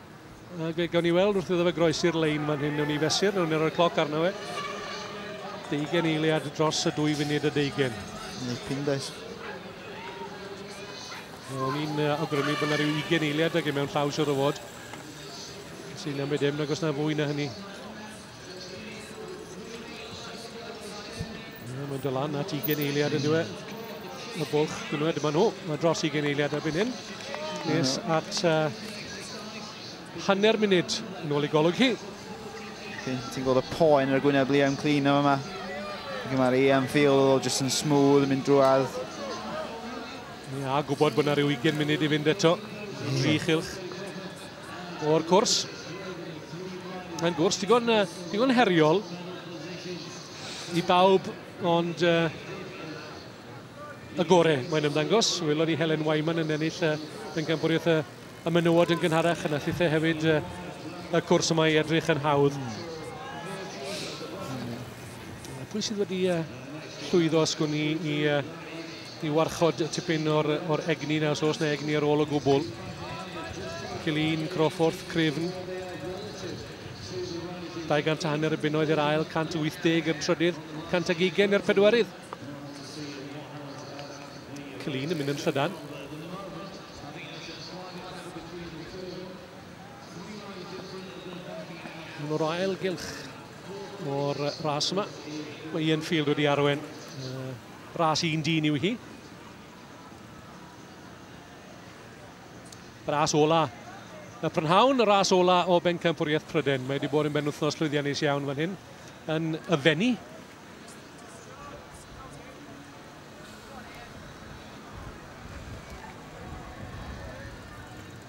A fe gawn ni weld wrth iddo fe groesi'r lein fan hyn, newn ni fesur, newn ni roi'r cloc arno fe. Deugen eiliad dros y dwy funud y deugen. Nipyn does. O'n i'n awgrymu bod yna rhyw 20 eiliad ag e mewn llaw siwr o fod. Sy'n am ddim, nag os na fwy na hynny. Mae'n dod lan at 20 eiliad yn dweud. Y bwlch, gwnwyd, dyma nhw. Mae dros 20 eiliad erbyn hyn. Nes at uh, hanner munud yn ôl i golwg hi. Ti'n gweld y poen ar y gwyneb Liam Clean yma. Mae'r Ian Field jyst yn smooth yn mynd drwad. Ni a gwybod bod yna rhyw 20 munud i fynd eto. Tri chylch o'r cwrs. Mae'n gwrs digon, uh, digon heriol i bawb, ond uh, y gore mae'n ymddangos. Welon ni Helen Wyman yn ennill uh, yn gampwriaeth y, y menywod yn gynharach yn allithau hefyd uh, y cwrs yma i edrych yn hawdd. Pwy sydd wedi uh, llwyddo os gwn i i uh, I warchod tipyn o'r, or egni na os oes na egni ar ôl o gwbl. Cilin Crawford, Cryfn. 200 a hanner y bunnoedd i'r ail, 180 i'r trydydd, 100 ag ugen i'r pedwerydd. Cilin yn mynd yn llydan. Mae'n o'r ail gylch o'r ras yma. Mae Ian Field wedi arwen Bras un dyn yw hi. Bras ola y prynhawn, y ras ola o bencampwriaeth Pryden. Mae wedi bod yn benwthnos llwyddiannus iawn fan hyn yn y fenni.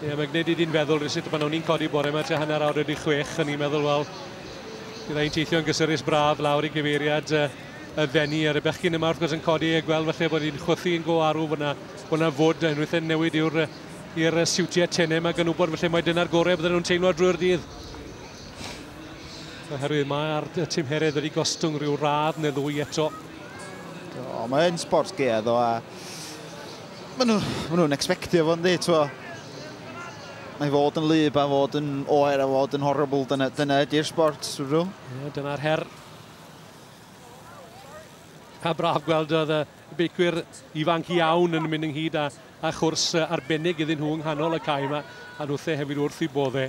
Ie, yeah, mae'n gwneud i di'n feddwl rhywsut pan o'n i'n codi bore yma tua hanner awr wedi chwech, o'n i'n meddwl, wel, bydd ein teithio'n gysurus braf lawr i gyfeiriad uh, y fenni ar y bechgyn yma wrth gwrs yn codi a gweld falle bod hi'n chwythu yn go arw bod yna, bod yna fod yn rhywbeth newid i'r i'r siwtiau tenau yma gan wybod falle mae dyna'r gorau bydden nhw'n teimlo drwy'r dydd. Oherwydd mae'r tymheredd wedi gostwng rhyw radd neu ddwy eto. Do, mae yn sport gea ddo a maen nhw, maen nhw'n expectio fo yndi, twa. Mae fod yn lyb a fod yn oer a fod yn horrible, dyna, dyna ydy'r sport, dwi'n rhyw. Ie, dyna'r her. A braf gweld oedd y beicwyr ifanc iawn yn mynd ynghyd a, a chwrs arbennig iddyn nhw yng nghanol y cae yma, a nhwthe hefyd wrth i bodde.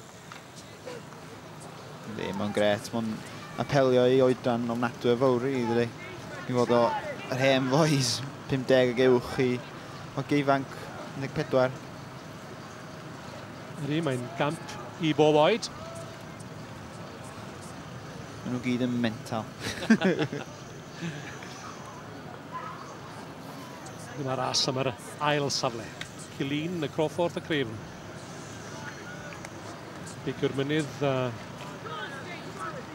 Ydy, mae'n gret. Mae'n apelio i oedran ofnadwy o fawr i ddydy. I fod o yr hen foes 50 ag uwch i o geifanc 14. Ydy, mae'n gamp i bob oed. Mae nhw gyd yn mental. Dyma ras am yr ail safle. Cilin, y Crawford, y Craven. Beicio'r mynydd a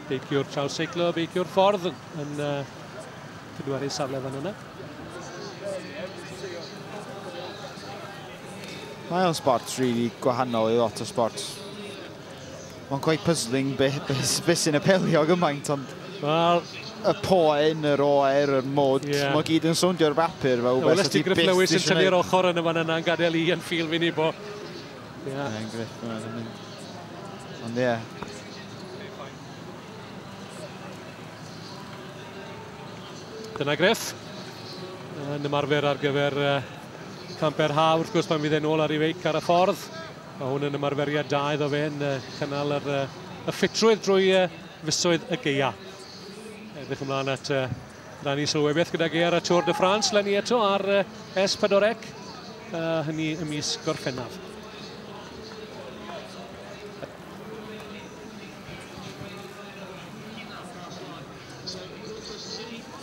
beicio'r trawseiclo, beicio'r ffordd yn, yn uh, cydwaru safle fan yna. Mae o'n sport really gwahanol i lot o sport. Mae'n quite puzzling be, be, be sy'n apelio gymaint, ond... Wel... Y poen, yr oer, yr mod, yeah. mae gyd yn sowndio ar bapur fel rhywbeth Wnes ti Griff Lewis yn tynnu'r ochr yn y fan yna yn gadael i yn ffil fi'n ibo. Ie. Yeah. Mae'n Griff, mae'n mynd. Ond ie. Yeah. Dyna Griff. Yn ymarfer ar gyfer uh, camper ha, wrth gwrs pan fydd e'n ôl ar ei feic ar y ffordd. Mae hwn yn ymarferiad da iddo fe yn cynnal yr, y ffitrwydd drwy fisoedd y geia. Edrych ymlaen at rannu sylwebeth beth gyda geir a Tôr de France, lenni eto ar S4C, hynny y mis gorffennaf.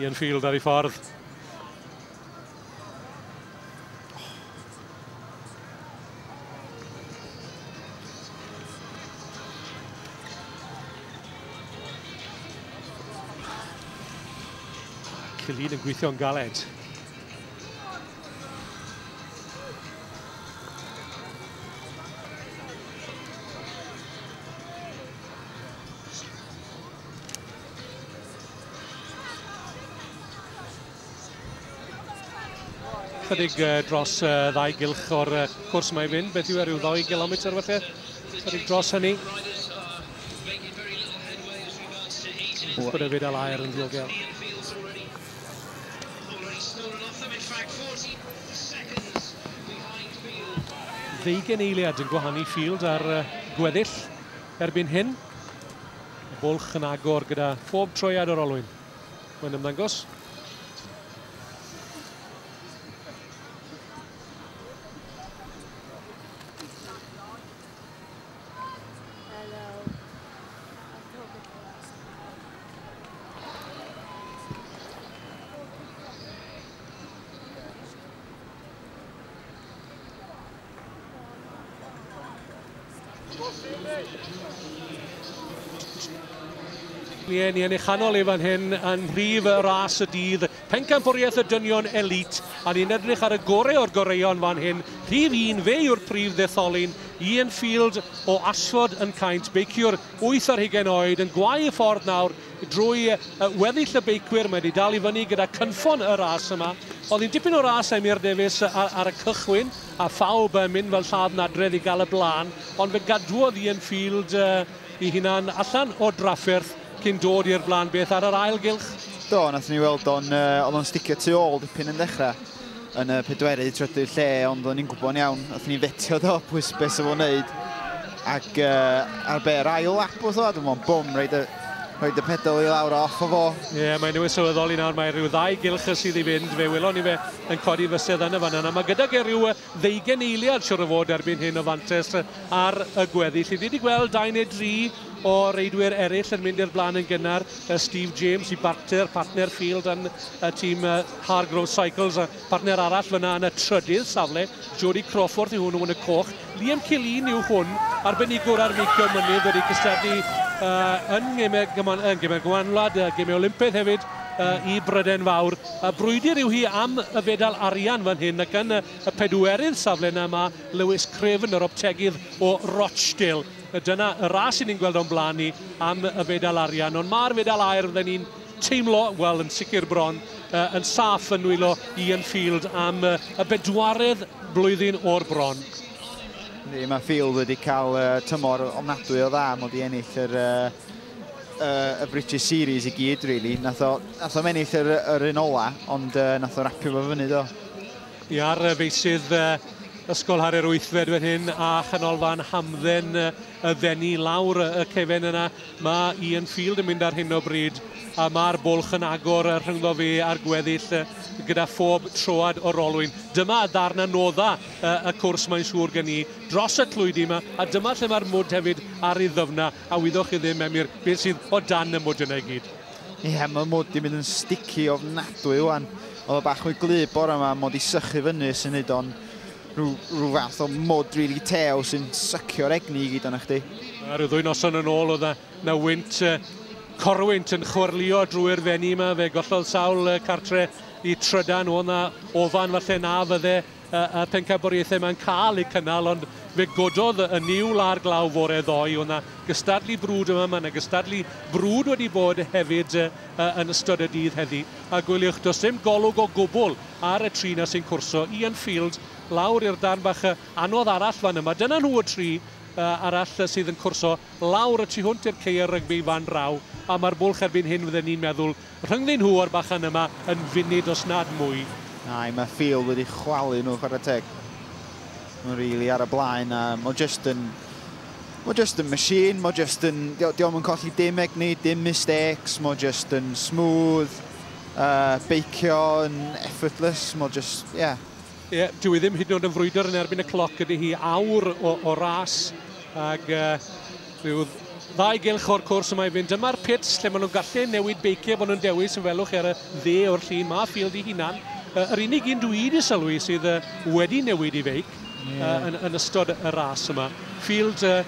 Ian Field ar ei ffordd. Cillian yn gweithio'n galed. Chydig uh, dros uh, ddau gylch o'r uh, cwrs mae'n mynd, beth yw e, rhyw ddoi gilometr felly? Chydig dros hynny. Gwrdd y fyd alair yn ddiogel. Ddeugain eiliad yn gwahanu Field ar gweddill erbyn hyn. Y bwlch yn agor gyda phob troiad o'r olwyn. Mae'n ymddangos. Ie, ni yn ei chanol ei fan hyn yn rhif y ras y dydd. Pencampwriaeth y dynion elît, a ni'n edrych ar y gorau o'r goreuon fan hyn, rhif un, fe yw'r prif ddetholyn, Ian Field o Ashford yn Caint, beiciwr wyth ar hugain oed, yn gwau y ffordd nawr drwy weddill y beicwyr, mae wedi dal i fyny gyda cynffon y ras yma. Oedd hi'n dipyn o ras Emyr Davies ar, ar y cychwyn, a phawb mynd fel lladd nadredd i gael y blaen, ond fe gadwodd Ian Field i hunan allan o drafferth, cyn dod i'r blaen beth ar yr ail gylch? Do, nath ni weld o'n, uh, oedd o'n sticio tu ôl dipyn yn dechrau yn y pedwerydd trydydd lle, ond oedden ni'n gwybod iawn, oedd ni'n fetio do, pwys beth sy'n fod wneud. Ac uh, ar be'r ail lap oedd o, dwi'n meddwl, bwm, reid y, reid y pedal i lawr off o fo. Ie, yeah, mae newydd sylweddoli nawr, mae rhyw ddau gylch sydd i fynd, fe welon ni fe yn codi fysedd yn y fan yna. Mae gydag e rhyw ddeugain eiliad siwr o fod erbyn hyn o fantais ar y gweddill. Fi wedi gweld dau neu dri o reidwyr eraill yn mynd i'r blaen yn gynnar. Steve James i Barter, partner Field yn y tîm Hargrove Cycles, a partner arall fyna yn y trydydd safle. Jody Crawford i hwnnw yn y coch. Liam Killeen yw hwn, arbenigwr ar feicio mynydd wedi cystadlu uh, yn gemau gyman, uh, gemau gymanwlad, uh, gemau Olympaidd hefyd uh, i Bryden Fawr. Y brwydr yw hi am y fedal arian fan hyn ac yn y pedwerydd safle yna mae Lewis Craven, yr optegydd o Rochdale. Dyna y ras i ni'n gweld o'n blaen ni am y fedal arian, ond mae'r fedal aer fydden ni'n teimlo, wel yn sicr bron, yn saff yn nwylo Ian Field am y bedwaredd blwyddyn o'r bron. Ni, mae Field wedi cael tymor ofnadwy o dda, mod i ennill yr uh, y British Series i gyd, really. Nath o, nath o mennill yr, yr un ola, ond uh, nath o rapio fo fyny, do. I ar feisydd uh, Ysgol Harrier Wythfed fan hyn a chanolfan hamdden y ddenu lawr y cefen yna. Mae Ian Field yn mynd ar hyn o bryd a mae'r bwlch yn agor rhyngddo fe a'r gweddill gyda phob troad o'r olwyn. Dyma y ddarn anodda y cwrs mae'n siŵr gen i dros y tlwydi yma a dyma lle mae'r mwd hefyd ar ei ddyfna. a wyddoch chi ddim, Emyr, beth sydd o dan y mwd yna i gyd. Ie, yeah, mae mwd i mynd yn sticky ofnadwy wan. Oedd o bach mwy glyb bore yma, mod i sychu fyny sy'n neud o'n rhyw, rhyw fath o mwd rili really tew sy'n sycio'r egni i gyd o'na chdi. A rhyw ddwy noson yn ôl oedd na wynt uh, corwynt yn chwyrlio drwy'r fenni yma, fe gollodd sawl uh, cartre i trydan, oedd na ofan falle na fydde a'r pencampwriaethau yma'n cael eu cynnal, ond fe gododd y niwl a'r glaw fore ddoe. Oedd 'na gystadlu brwd yma, mae 'na gystadlu brwd wedi bod hefyd yn ystod y dydd heddi. A gwyliwch, does dim golwg o gwbl ar y tri 'na sy'n cwrso. Ian Field lawr i'r darn bach anodd arall fan yma. Dyna nhw y tri arall sydd yn cwrso lawr y tu hwnt i'r ceir rygbi fan draw, a mae'r bwlch erbyn hyn fydden ni'n meddwl Rhyngddyn nhw o'r bachan yma yn funud os nad mwy. Ai, mae Field wedi chwalu nhw chwarae teg. Mae'n rili ar y blaen a mae just yn... Mae just yn machine, mae just yn... Diolch yn colli dim egni, dim mistakes, mae just yn smooth, uh, beicio yn effortless, mae just, ie. Yeah. Ie, yeah, dwi ddim hyd yn oed yn frwydr yn erbyn y cloc ydy hi awr o, o ras, ag... Uh, Rhyw ddau gylch o'r cwrs y mae fynd. Dyma'r pits lle maen nhw'n gallu newid beiciau bod nhw'n dewis yn welwch chi ar y dde o'r llun. Mae Field ei hunan, yy, yr unig un dwi wedi sylwi sydd yy, wedi newid ei feic yy, yn, yn ystod y ras yma. Field, yy,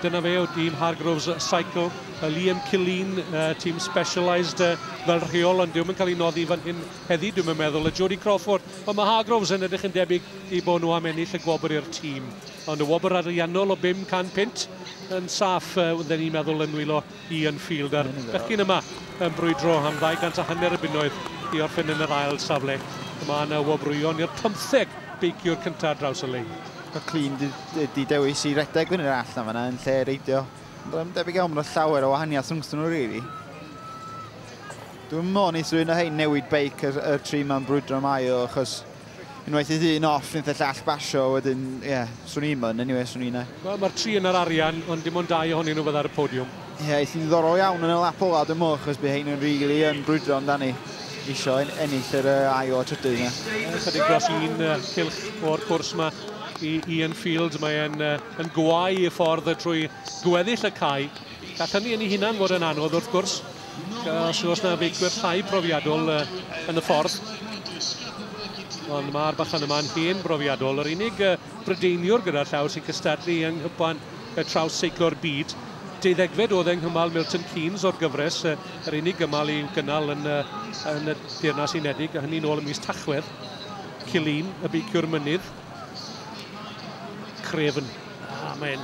dyna fe o dîm Hargroves Cycle. Yy, Liam Killeen, yy, tîm Specialised yy, fel rheol, ond dyw'm yn cael ei noddi fan hyn heddi, dwi'm yn meddwl. A Jody Crawford. Wel, mae Hargroves yn edrych yn debyg i bod nhw am ennill y gwobr i'r tîm. Ond y wobr ariannol o 500 punt yn saff, wydden ni'n meddwl yn nwylo Ian Field a'r bechgyn yma yn brwydro am ddau gant a hanner y bunnoedd i orffen yn yr ail safle. Mae yna wobrwyon i'r pymtheg beiciwr cyntaf ar draws y lein. Mae Clun wedi dewis i redeg fyny'r allt na fanna yn lle reidio. Ond doedd o'm debyg iawn bod 'na llawer o wahaniaeth rhwngstyn nhw rili. Dwi'n meddwl wneith rhywun o hein newid beic yr, yr tri 'ma'n brwydro am ail achos Unwaith fydd un off, nith y llall basio, wedyn, ie, yeah, swn i'n myn, anyway, swn i'n e. Mae'r ma tri yn yr arian, ond dim ond dau ohonyn nhw fydda ar y podiwm. Ie, yeah, eithi'n ddiddorol iawn yn y lap ola, dwi'n mwch, chos bydd hein yn rili really yn brwydro amdani isio en ennill yr uh, ail o trydydd. Ie, chydig dros un uh, cilch o'r cwrs yma i Ian Fields. Mae'n uh, yn gwau y ffordd trwy gweddill y cae. Gall hynny yn ei hunan fod yn anodd wrth gwrs, os oes yna feicwyr llai profiadol uh, yn y ffordd. Ond mae'r bachan yma'n hen brofiadol. Yr unig uh, brydeiniwr gyda llaw sy'n cystadlu yng nghypan y traws seiclo'r byd. Deuddegfed oedd yng nghymal Milton Keynes o'r gyfres, uh, yr unig gymal i'w gynnal yn, uh, yn y Deyrnas Unedig, a hynny'n ôl ym mis Tachwedd. Cilin, y beiciwr mynydd. Craven. Ah, mae'n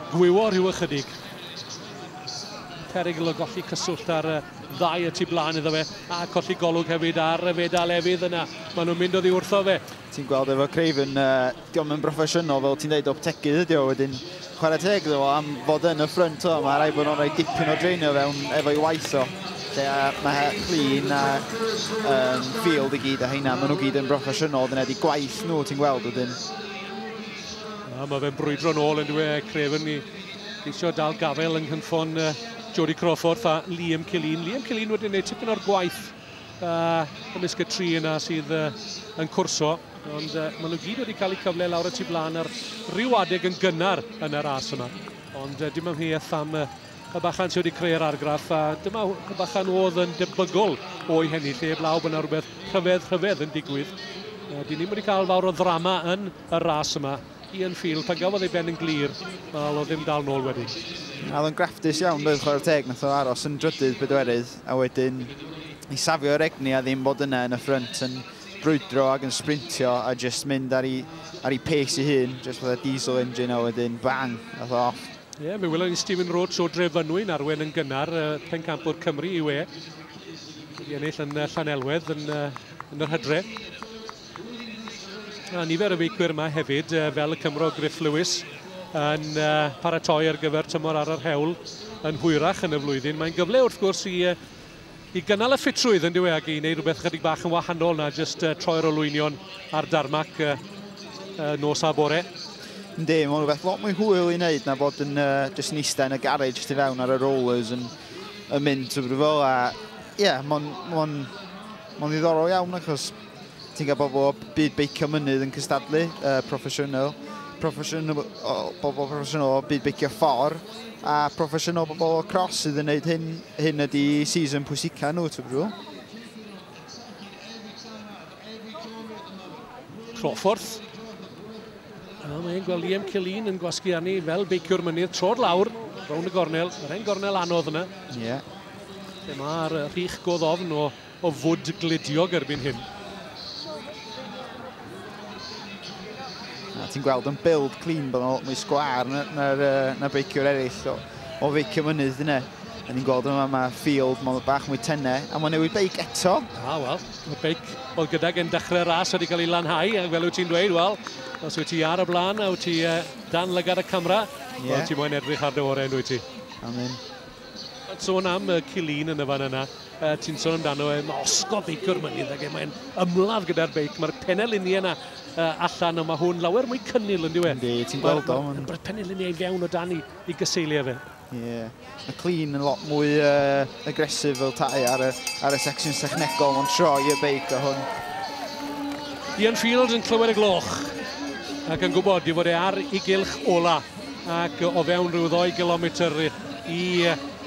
Gwywo rhyw ychydig. Perygl o golli cyswllt ar y ddau y tu blaen iddo fe, a colli golwg hefyd ar y fedal efydd yna. Maen nhw'n mynd oddi wrtho fe. Ti'n gweld efo Craven, uh, diolch yn broffesiynol fel ti'n dweud, optegydd ydi o wedyn. Chwarae teg iddo fo am fod yn y ffrynt o, mae rai bod nhw'n rhoi dipyn o dreinio fewn efo'i waith o. Lle mae clean a um, field i gyd a heina, maen nhw gyd yn broffesiynol, dyna di gwaith nhw ti'n gweld wedyn. A mae fe'n brwydro nôl yn dweud Craven ni geisio dal gafel yng nghynffon uh, Jody Crawford a Liam Killeen. Liam Killeen wedi gwneud tipyn o'r gwaith uh, ymysg y tri yna sydd uh, yn cwrso. Ond uh, maen nhw gyd wedi cael eu cyfle lawr y tu blaen ar ryw adeg yn gynnar yn yr as yma. Ond uh, dim ymheuaeth am uh, y bachan sydd wedi creu'r argraff a dyma y bachan oedd yn debygol o'i hennill heb law bod yna rhywbeth rhyfedd rhyfedd yn digwydd. Uh, dyn ni'n wedi cael fawr o ddrama yn y ras yma. Ian Field, pan gafodd ei ben yn glir, mae o ddim dal nôl wedyn. Oedd o'n graftus iawn, doedd chwarae teg, nath o aros yn drydydd bedwerydd, a wedyn i safio yr egni a ddim bod yna yn y ffrynt yn brwydro ac yn sprintio a just mynd ar ei, ar ei pace ei hun, just fatha diesel engine a wedyn bang, nath o off. Ie, yeah, mi welon ni Stephen Roach o Drefynwy yn arwen yn gynnar, uh, pencampwr Cymru i we. Wedi ennill yn uh, Llanelwedd yn, uh, yn yr hydre. Na, nifer y weithwyr yma hefyd, fel y Cymro Griff Lewis, yn paratoi ar gyfer tymor ar yr hewl yn hwyrach yn y flwyddyn. Mae'n gyfle wrth gwrs i, i gynnal y ffitrwydd yn dywe ac i wneud rhywbeth chydig bach yn wahanol na jyst uh, troi'r olwynion ar darmac uh, uh, nos a bore. Ynddi, mae'n rhywbeth lot mwy hwyl i wneud na bod yn uh, jyst yn eistedd yn y garage jyst i fewn ar y rollers yn, yn mynd trwy fel a ie, yeah, mae'n ma ma ddiddorol iawn achos Ti'n cael bobl o byd beicio mynydd yn cystadlu, uh, proffesiynol, proffesiynol, bobl proffesiynol o byd beicio ffor, a proffesiynol bobl o cros sydd yn gwneud hyn, hyn ydy season pwysica nhw, ti'n brwyl? Crawford. A mae'n gweld Liam Cillian yn gwasgu arni fel beiciwr mynydd tro'r lawr, rown y gornel, yr hen gornel anodd yna. Ie. Yeah. Lle mae'r rhych godd ofn o o fwd gludiog erbyn hyn. A ti'n gweld yn build clean bod nhw'n mwy sgwar na'r na beiciwr eraill o, o feicio mynydd yna. A ni'n gweld yma mae Field, mae'n bach mwy tenne, a mae'n newid beic eto. A, wel, y beic, wel, gyda gen dechrau'r ras wedi cael ei lanhau, ac fel wyt ti'n dweud, wel, os wyt ti ar y blaen a wyt ti uh, dan lygad y camera, yeah. wel, ti moyn edrych ar dy orau, yn dweud ti? Amen. Sôn am uh, Cilin yn y fan yna, uh, ti'n sôn amdano e, mae osgodd feicio'r mynydd ac e, mae'n ymladd gyda'r beic, mae'r peneliniau yna uh, allan, ond mae hwn lawer mwy cynnil yn diwy. Yndi, ti'n gweld o. Mae'n ma, peneliniau i fewn o dan i, i gyseiliau fe. Ie, yeah. mae Cilin yn lot mwy uh, agresif fel tai ar y, ar y secsiwn sechnegol, mae'n troi y beic o hwn. Ian Fields yn clywed y gloch ac yn gwybod i fod e ar ei gylch ola. ac o fewn rhyw ddoi gilometr i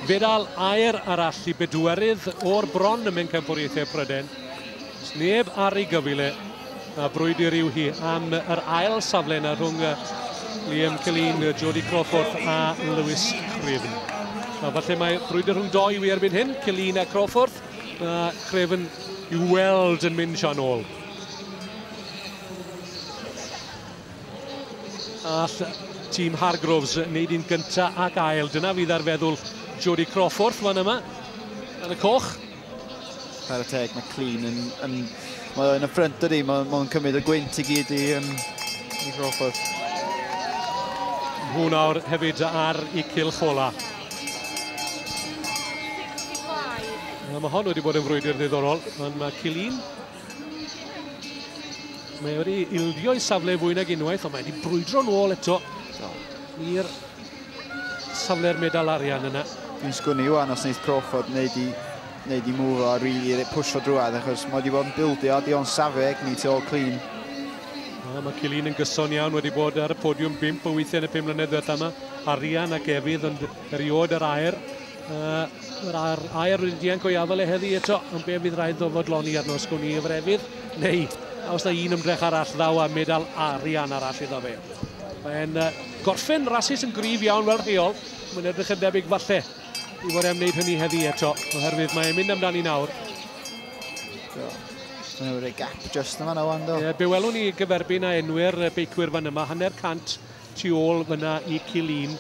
fedal aer arall i bedwerydd o'r bron ym Mhencampwriaethau Pryden. Os neb ar ei gyfile, a brwydr yw hi am yr ail safle yna rhwng Liam Celin, Jody Crawford a Lewis Craven. A falle mae brwydr rhwng doi wy erbyn hyn, Celin a Crawford, a Craven i'w weld yn mynd sian ôl. All tîm Hargroves wneud un gynta ac ail. Dyna fydd ar feddwl Jodie Crawford fan yma yn y coch. Chwarae teg, mae Clean yn... yn mae yn y ffrynt dydy, mae'n ma cymryd y gwynt i gyd i, um, i Crawford. Hwn awr hefyd ar i cylch ola. Mae hon wedi bod yn frwydr ddiddorol, ond mae Cilin Mae wedi ildio i safle fwy nag unwaith, ond mae wedi brwydro nôl eto i'r safle'r medal arian yna. Dwi'n sgwni iwan os wneud Crawford wneud i, wneud i move o a rili really pwysio drwad, achos mae wedi bod yn bildio a dio'n safe egni tu ôl clean. A mae Cilin yn gyson iawn wedi bod ar y podiwm bimp o weithiau yn y pum mlynedd diwetha yma. Arian ac Efydd ond eriod yr aer Uh, yr air, air wedi dianc go iawn le heddi eto, ond be fydd rhaid ddo fodloni arno sgwn i efo'r efydd, neu os da un ymdrech arall ddaw a medal arian arall iddo fe. Mae'n uh, gorffen rasis yn grif iawn fel rheol, mae'n edrych yn debyg falle i fod e'n wneud hynny heddi eto, oherwydd mae'n mynd amdani nawr. Mae'n rhoi gap just yma na wan do. Ie, be welwn ni gyferbyn a enwyr beicwyr fan yma, hanner cant tu ôl fyna i Killeen.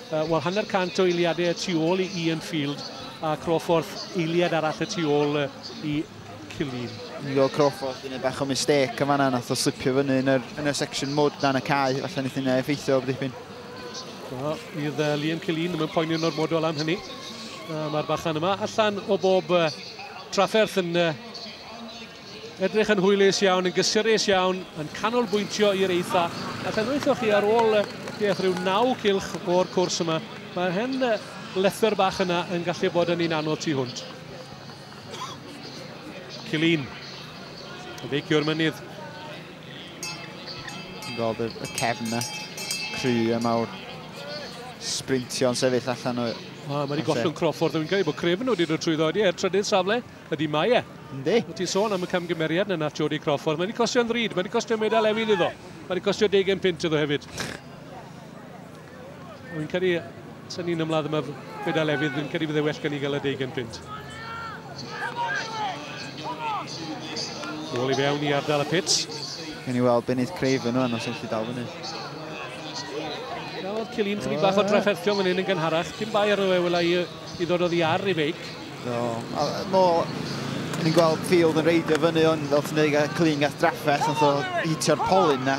Uh, Wel, hanner cant o eiliadau y tu ôl i Ian Field a Crawford eiliad arall y tu ôl i Killeen. Nigo Crawford yn ei bach o mistake yn fanna, nath o slipio fyny yn yr, yn y section mud dan y cae, falle nith yna effeithio o dipyn. No, fydd uh, Liam Killeen ddim yn poeni yn ormodol am hynny. Uh, Mae'r bachan yma allan o bob uh, trafferth yn uh, Edrych yn hwylus iawn, yn gysurus iawn, yn canolbwyntio i'r eitha. A phen weithoch chi ar ôl beth rhyw naw cilch o'r cwrs yma, mae'r hen lethr bach yna yn gallu bod yn un anodd tu hwnt. Cilin. Feicio'r mynydd. Rodd y cefn yna. Cry y mawr. Sprintio'n sefyll allan o... Mae wedi gollwng Crawford. Dwi'n cael ei bod crefn wedi dod trwy ddod i er trydydd safle. Ydy, mae e. Yndi. Wyt ti'n sôn am y camgymeriad na nath Jodie Crawford. Mae wedi costio'n ddrud, mae wedi costio medal efydd iddo. Mae wedi costio deugen pint iddo hefyd. Wy'n credu, sy'n ni'n ymladd yma medal efydd, fi'n credu bydde well gan i gael y deugen pint. Nôl i fewn i ardal y pits. Gen i weld Benydd Craven o'n os ydych chi dal fyny. Nawr, Cillian, chydig bach o drafferthion fan hyn yn gynharach. Dim bai arno fe, wela i I ddod oddi ar ei feic. Do, a nôl, o'n i'n gweld Field yn reidio fyny hwn, fel ti'n dweud, clean gath drafferth, ond oedd hitio'r polyn na,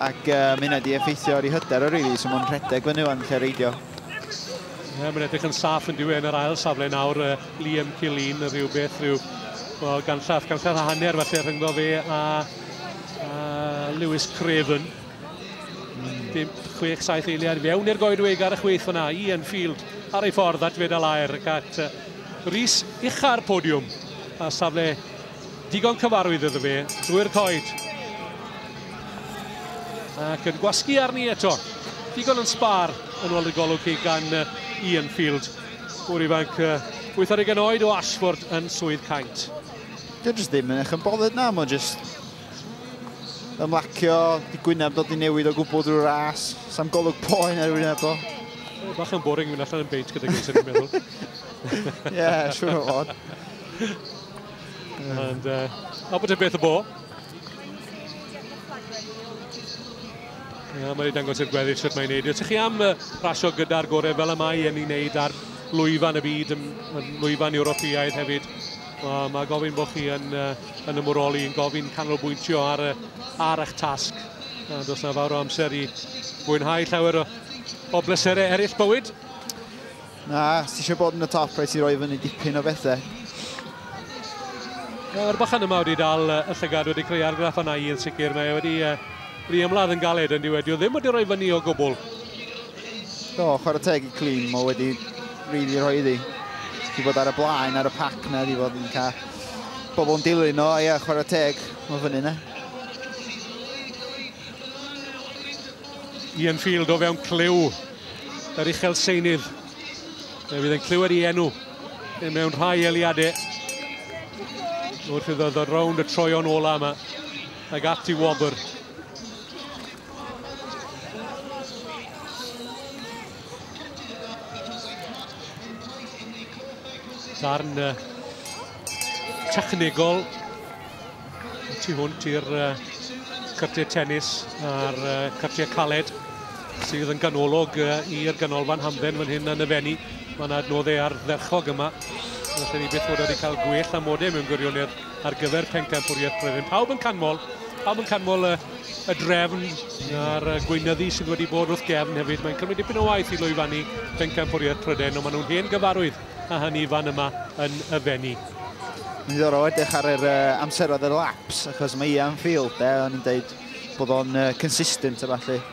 ac uh, mae hynna wedi effeithio ar ei hyder o rili, so mae'n rhedeg fyny o'n lle reidio. Ie, yeah, mae'n edrych yn saff yn diwy yn yr ail safle nawr, uh, Liam Killeen, rhywbeth, rhyw, well, ganllath, ganllath a hanner falle rhyngddo fe a, a Lewis Craven. Dim 6-7 eiliad fewn i'r goedwig ar y chwith fyna, Ian Field ar ei ffordd at fedal air ac at Rhys ucha'r podiwm a safle digon cyfarwydd iddo fe drwy'r coed. Ac yn gwasgu arni eto, digon yn sbar yn ôl y golwg chi gan Ian Field. Gŵr ifanc, wythar i ganoed o Ashford yn swydd caint. Dydw ddim yn eich yn bothered na, mae'n just ymlacio, di gwyneb dod i newid o gwbl drwy ras. Sam golwg poen ar wyneb o. Bach yn boring mynd allan yn beint gyda gynnes yn meddwl. Ie, yeah, siwr o fod. And, uh, a bod y beth y bo. Ia, mae'n ei dangos i'r gweddill sut mae'n neud. Ydych chi am uh, rasio gyda'r gorau fel y mae yn ei wneud ar lwyfan y byd, yn, yn lwyfan Ewropeaidd hefyd. Mae ma gofyn bod chi yn uh, yn ymwroli yn gofyn canolbwyntio ar, y, ar eich tasg. A does na fawr o amser i fwynhau llawer o, o bleserau eraill bywyd. Na, ti eisiau bod yn y top, rhaid ti roi fyny dipyn o bethau. Mae'r bachan yma wedi dal y llygad wedi creu argraff yna i yn sicr. Mae wedi, uh, wedi ymladd yn galed yn diwedio. Ddim wedi rhoi fyny o gwbl. Do, chwarae teg i Clean, mae wedi rili really rhoi iddi. Di bod ar y blaen, ar y pac na, di bod yn cael Pobl yn dilyn o, ia, chwarae teg. Mae fyny na. Ian Field o fewn clyw yr uchel seinydd. Fe fydd yn clywed i enw yn mewn rhai eliadau. Wrth iddo ddod rownd y troion ola yma. Ag ati wobr. Darn uh, technegol tu hwnt i'r uh, cyrtiau tennis a'r uh, cyrtiau caled sydd yn ganolog uh, i'r ganolfan hamdden fan hyn yn y fenni. Mae yna adnoddau ar dderchog yma. Felly ni beth bod wedi cael gwell amodau mewn gwirionedd. ar gyfer pencampwriaeth Brenin. Pawb yn canmol, pawb yn canmol y, y drefn a'r gweinyddu sydd wedi bod wrth gefn hefyd. Mae'n cymryd dipyn o waith i lwyfannu pencampwriaeth Prydain, ond maen nhw'n hen gyfarwydd a hynny fan yma yn y fenni. Yn ddiddorol edrych ar yr uh, amseroedd y laps, achos mae Ian Field, e, o'n i'n dweud bod o'n uh, consistent a falle.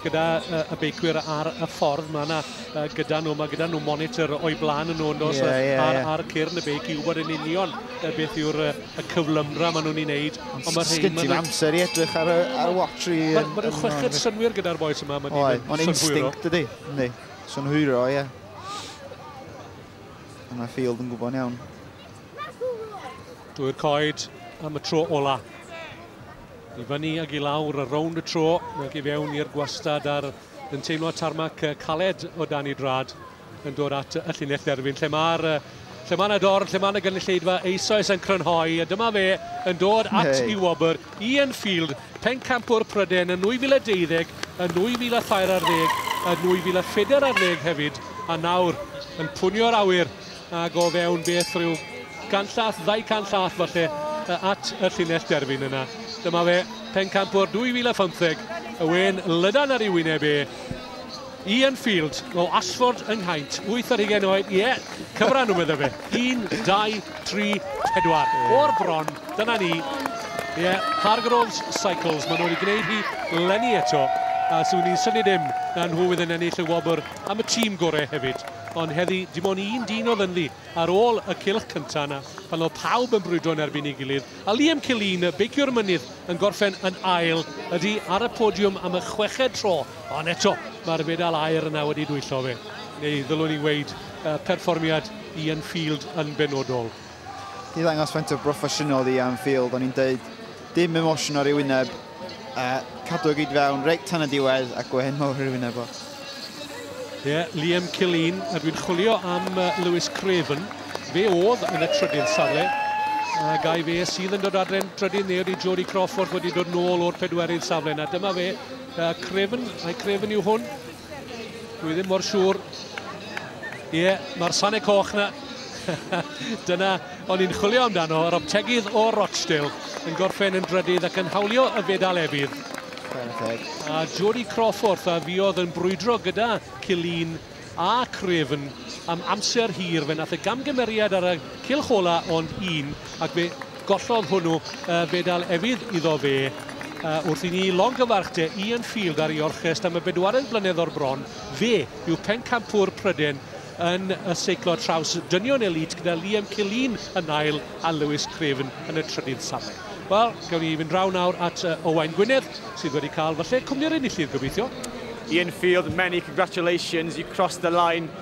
gyda uh, y beicwyr ar y ffordd. Mae yna uh, gyda nhw, mae gyda nhw monitor o'i blaen yn nhw, yn dos, yeah, yeah, ar, yeah. ar cyrn y beic i wybod yn union uh, beth yw'r uh, y cyflymdra maen nhw'n ei wneud. Ond mae'r rhain... Sgynti mae amser i edrych ar y, ar y watch i... Mae ma nhw'n chweched synwyr gyda'r boes yma, mae nhw'n synhwyro. Mae'n instinct ydy, ydy. Synhwyro, ie. Yeah. Mae Field yn gwybod iawn. Dwy'r coed am y tro ola. I fyny ag i lawr y rownd y tro, ac i fewn i'r gwastad ar yn teimlo tarmac caled o dan ei drad yn dod at y llinell dderfyn lle mae'r lle mae yna dorn, lle mae yna gynulleidfa eisoes yn crynhoi, a dyma fe yn dod at hey. i wobr Ian Field, pencampwr Pryden yn 2012, yn 2013 ar ddeg, yn 2014 ar ddeg hefyd, a nawr yn pwnio'r awyr Ag o fewn beth rhyw ganllath, ddau canllath falle, at y llinell derfyn yna. Dyma fe, pencampwr 2015, y wen lydan ar ei wyneb e, Ian Field o Ashford yng Nghaint, 8 ar hugen oed, ie, yeah, cyfran nhw meddwl fe, 1, 2, 3, 4, o'r bron, dyna ni, ie, yeah, Hargroves Cycles, maen nhw wedi gwneud hi lenni eto, a swn i'n syni dim na nhw fydd yn ennill y wobr am y tîm gorau hefyd, ond heddi dim ond un dyn oedd ynddi ar ôl y cylch cyntaf yna pan oedd pawb yn brwydro yn erbyn ei gilydd, a Liam Killeen, beiciwr mynydd, yn gorffen yn ail, ydi ar y podiwm am y chweched tro, ond eto mae'r fedal aur yna wedi dwyllo fe, neu ddylwn i weud, perfformiad Ian Field yn benodol. 'di ddangos faint o broffesiynol i am field, o'n i'n deud dim emosiwn ar ei wyneb, a cadw y gyd fewn reit tan y diwedd a gwehen mawr ar ei wyneb o. Ie, yeah, Liam Killeen, a dwi'n chwilio am Lewis Craven. Fe oedd yn y trydydd safle, a gai fe sydd yn dod adre'n drydydd neu ydy Jody Crawford wedi dod nôl o'r pedwerydd safle. Na, dyma fe, uh, Craven, a'i Craven yw hwn, Dwi ddim mor siŵr. Ie, yeah, mae'r Sane Coch na. Dyna o'n i'n chwilio amdano, yr optegydd o Rochdale yn gorffen yn drydydd ac yn hawlio y fedal efydd. A Jody Crawford a fi oedd yn brwydro gyda Cilin a Cryfn am amser hir. Fe nath y gamgymeriad ar y cilch ola ond un ac fe Gollodd hwnnw fedal efydd iddo fe wrth i ni longyfarch De Ian Field ar ei orchest am y bedwaredd blynedd o'r bron. Fe yw pencampwr Pryden yn y seiclo traws dynion elît gyda Liam Killeen yn ail a Lewis Craven yn y trydydd safle. Wel, gewn ni fynd draw nawr at Owain Gwynedd sydd wedi cael falle cwmni'r enillydd, gobeithio. Ian Field, many congratulations, you crossed the line.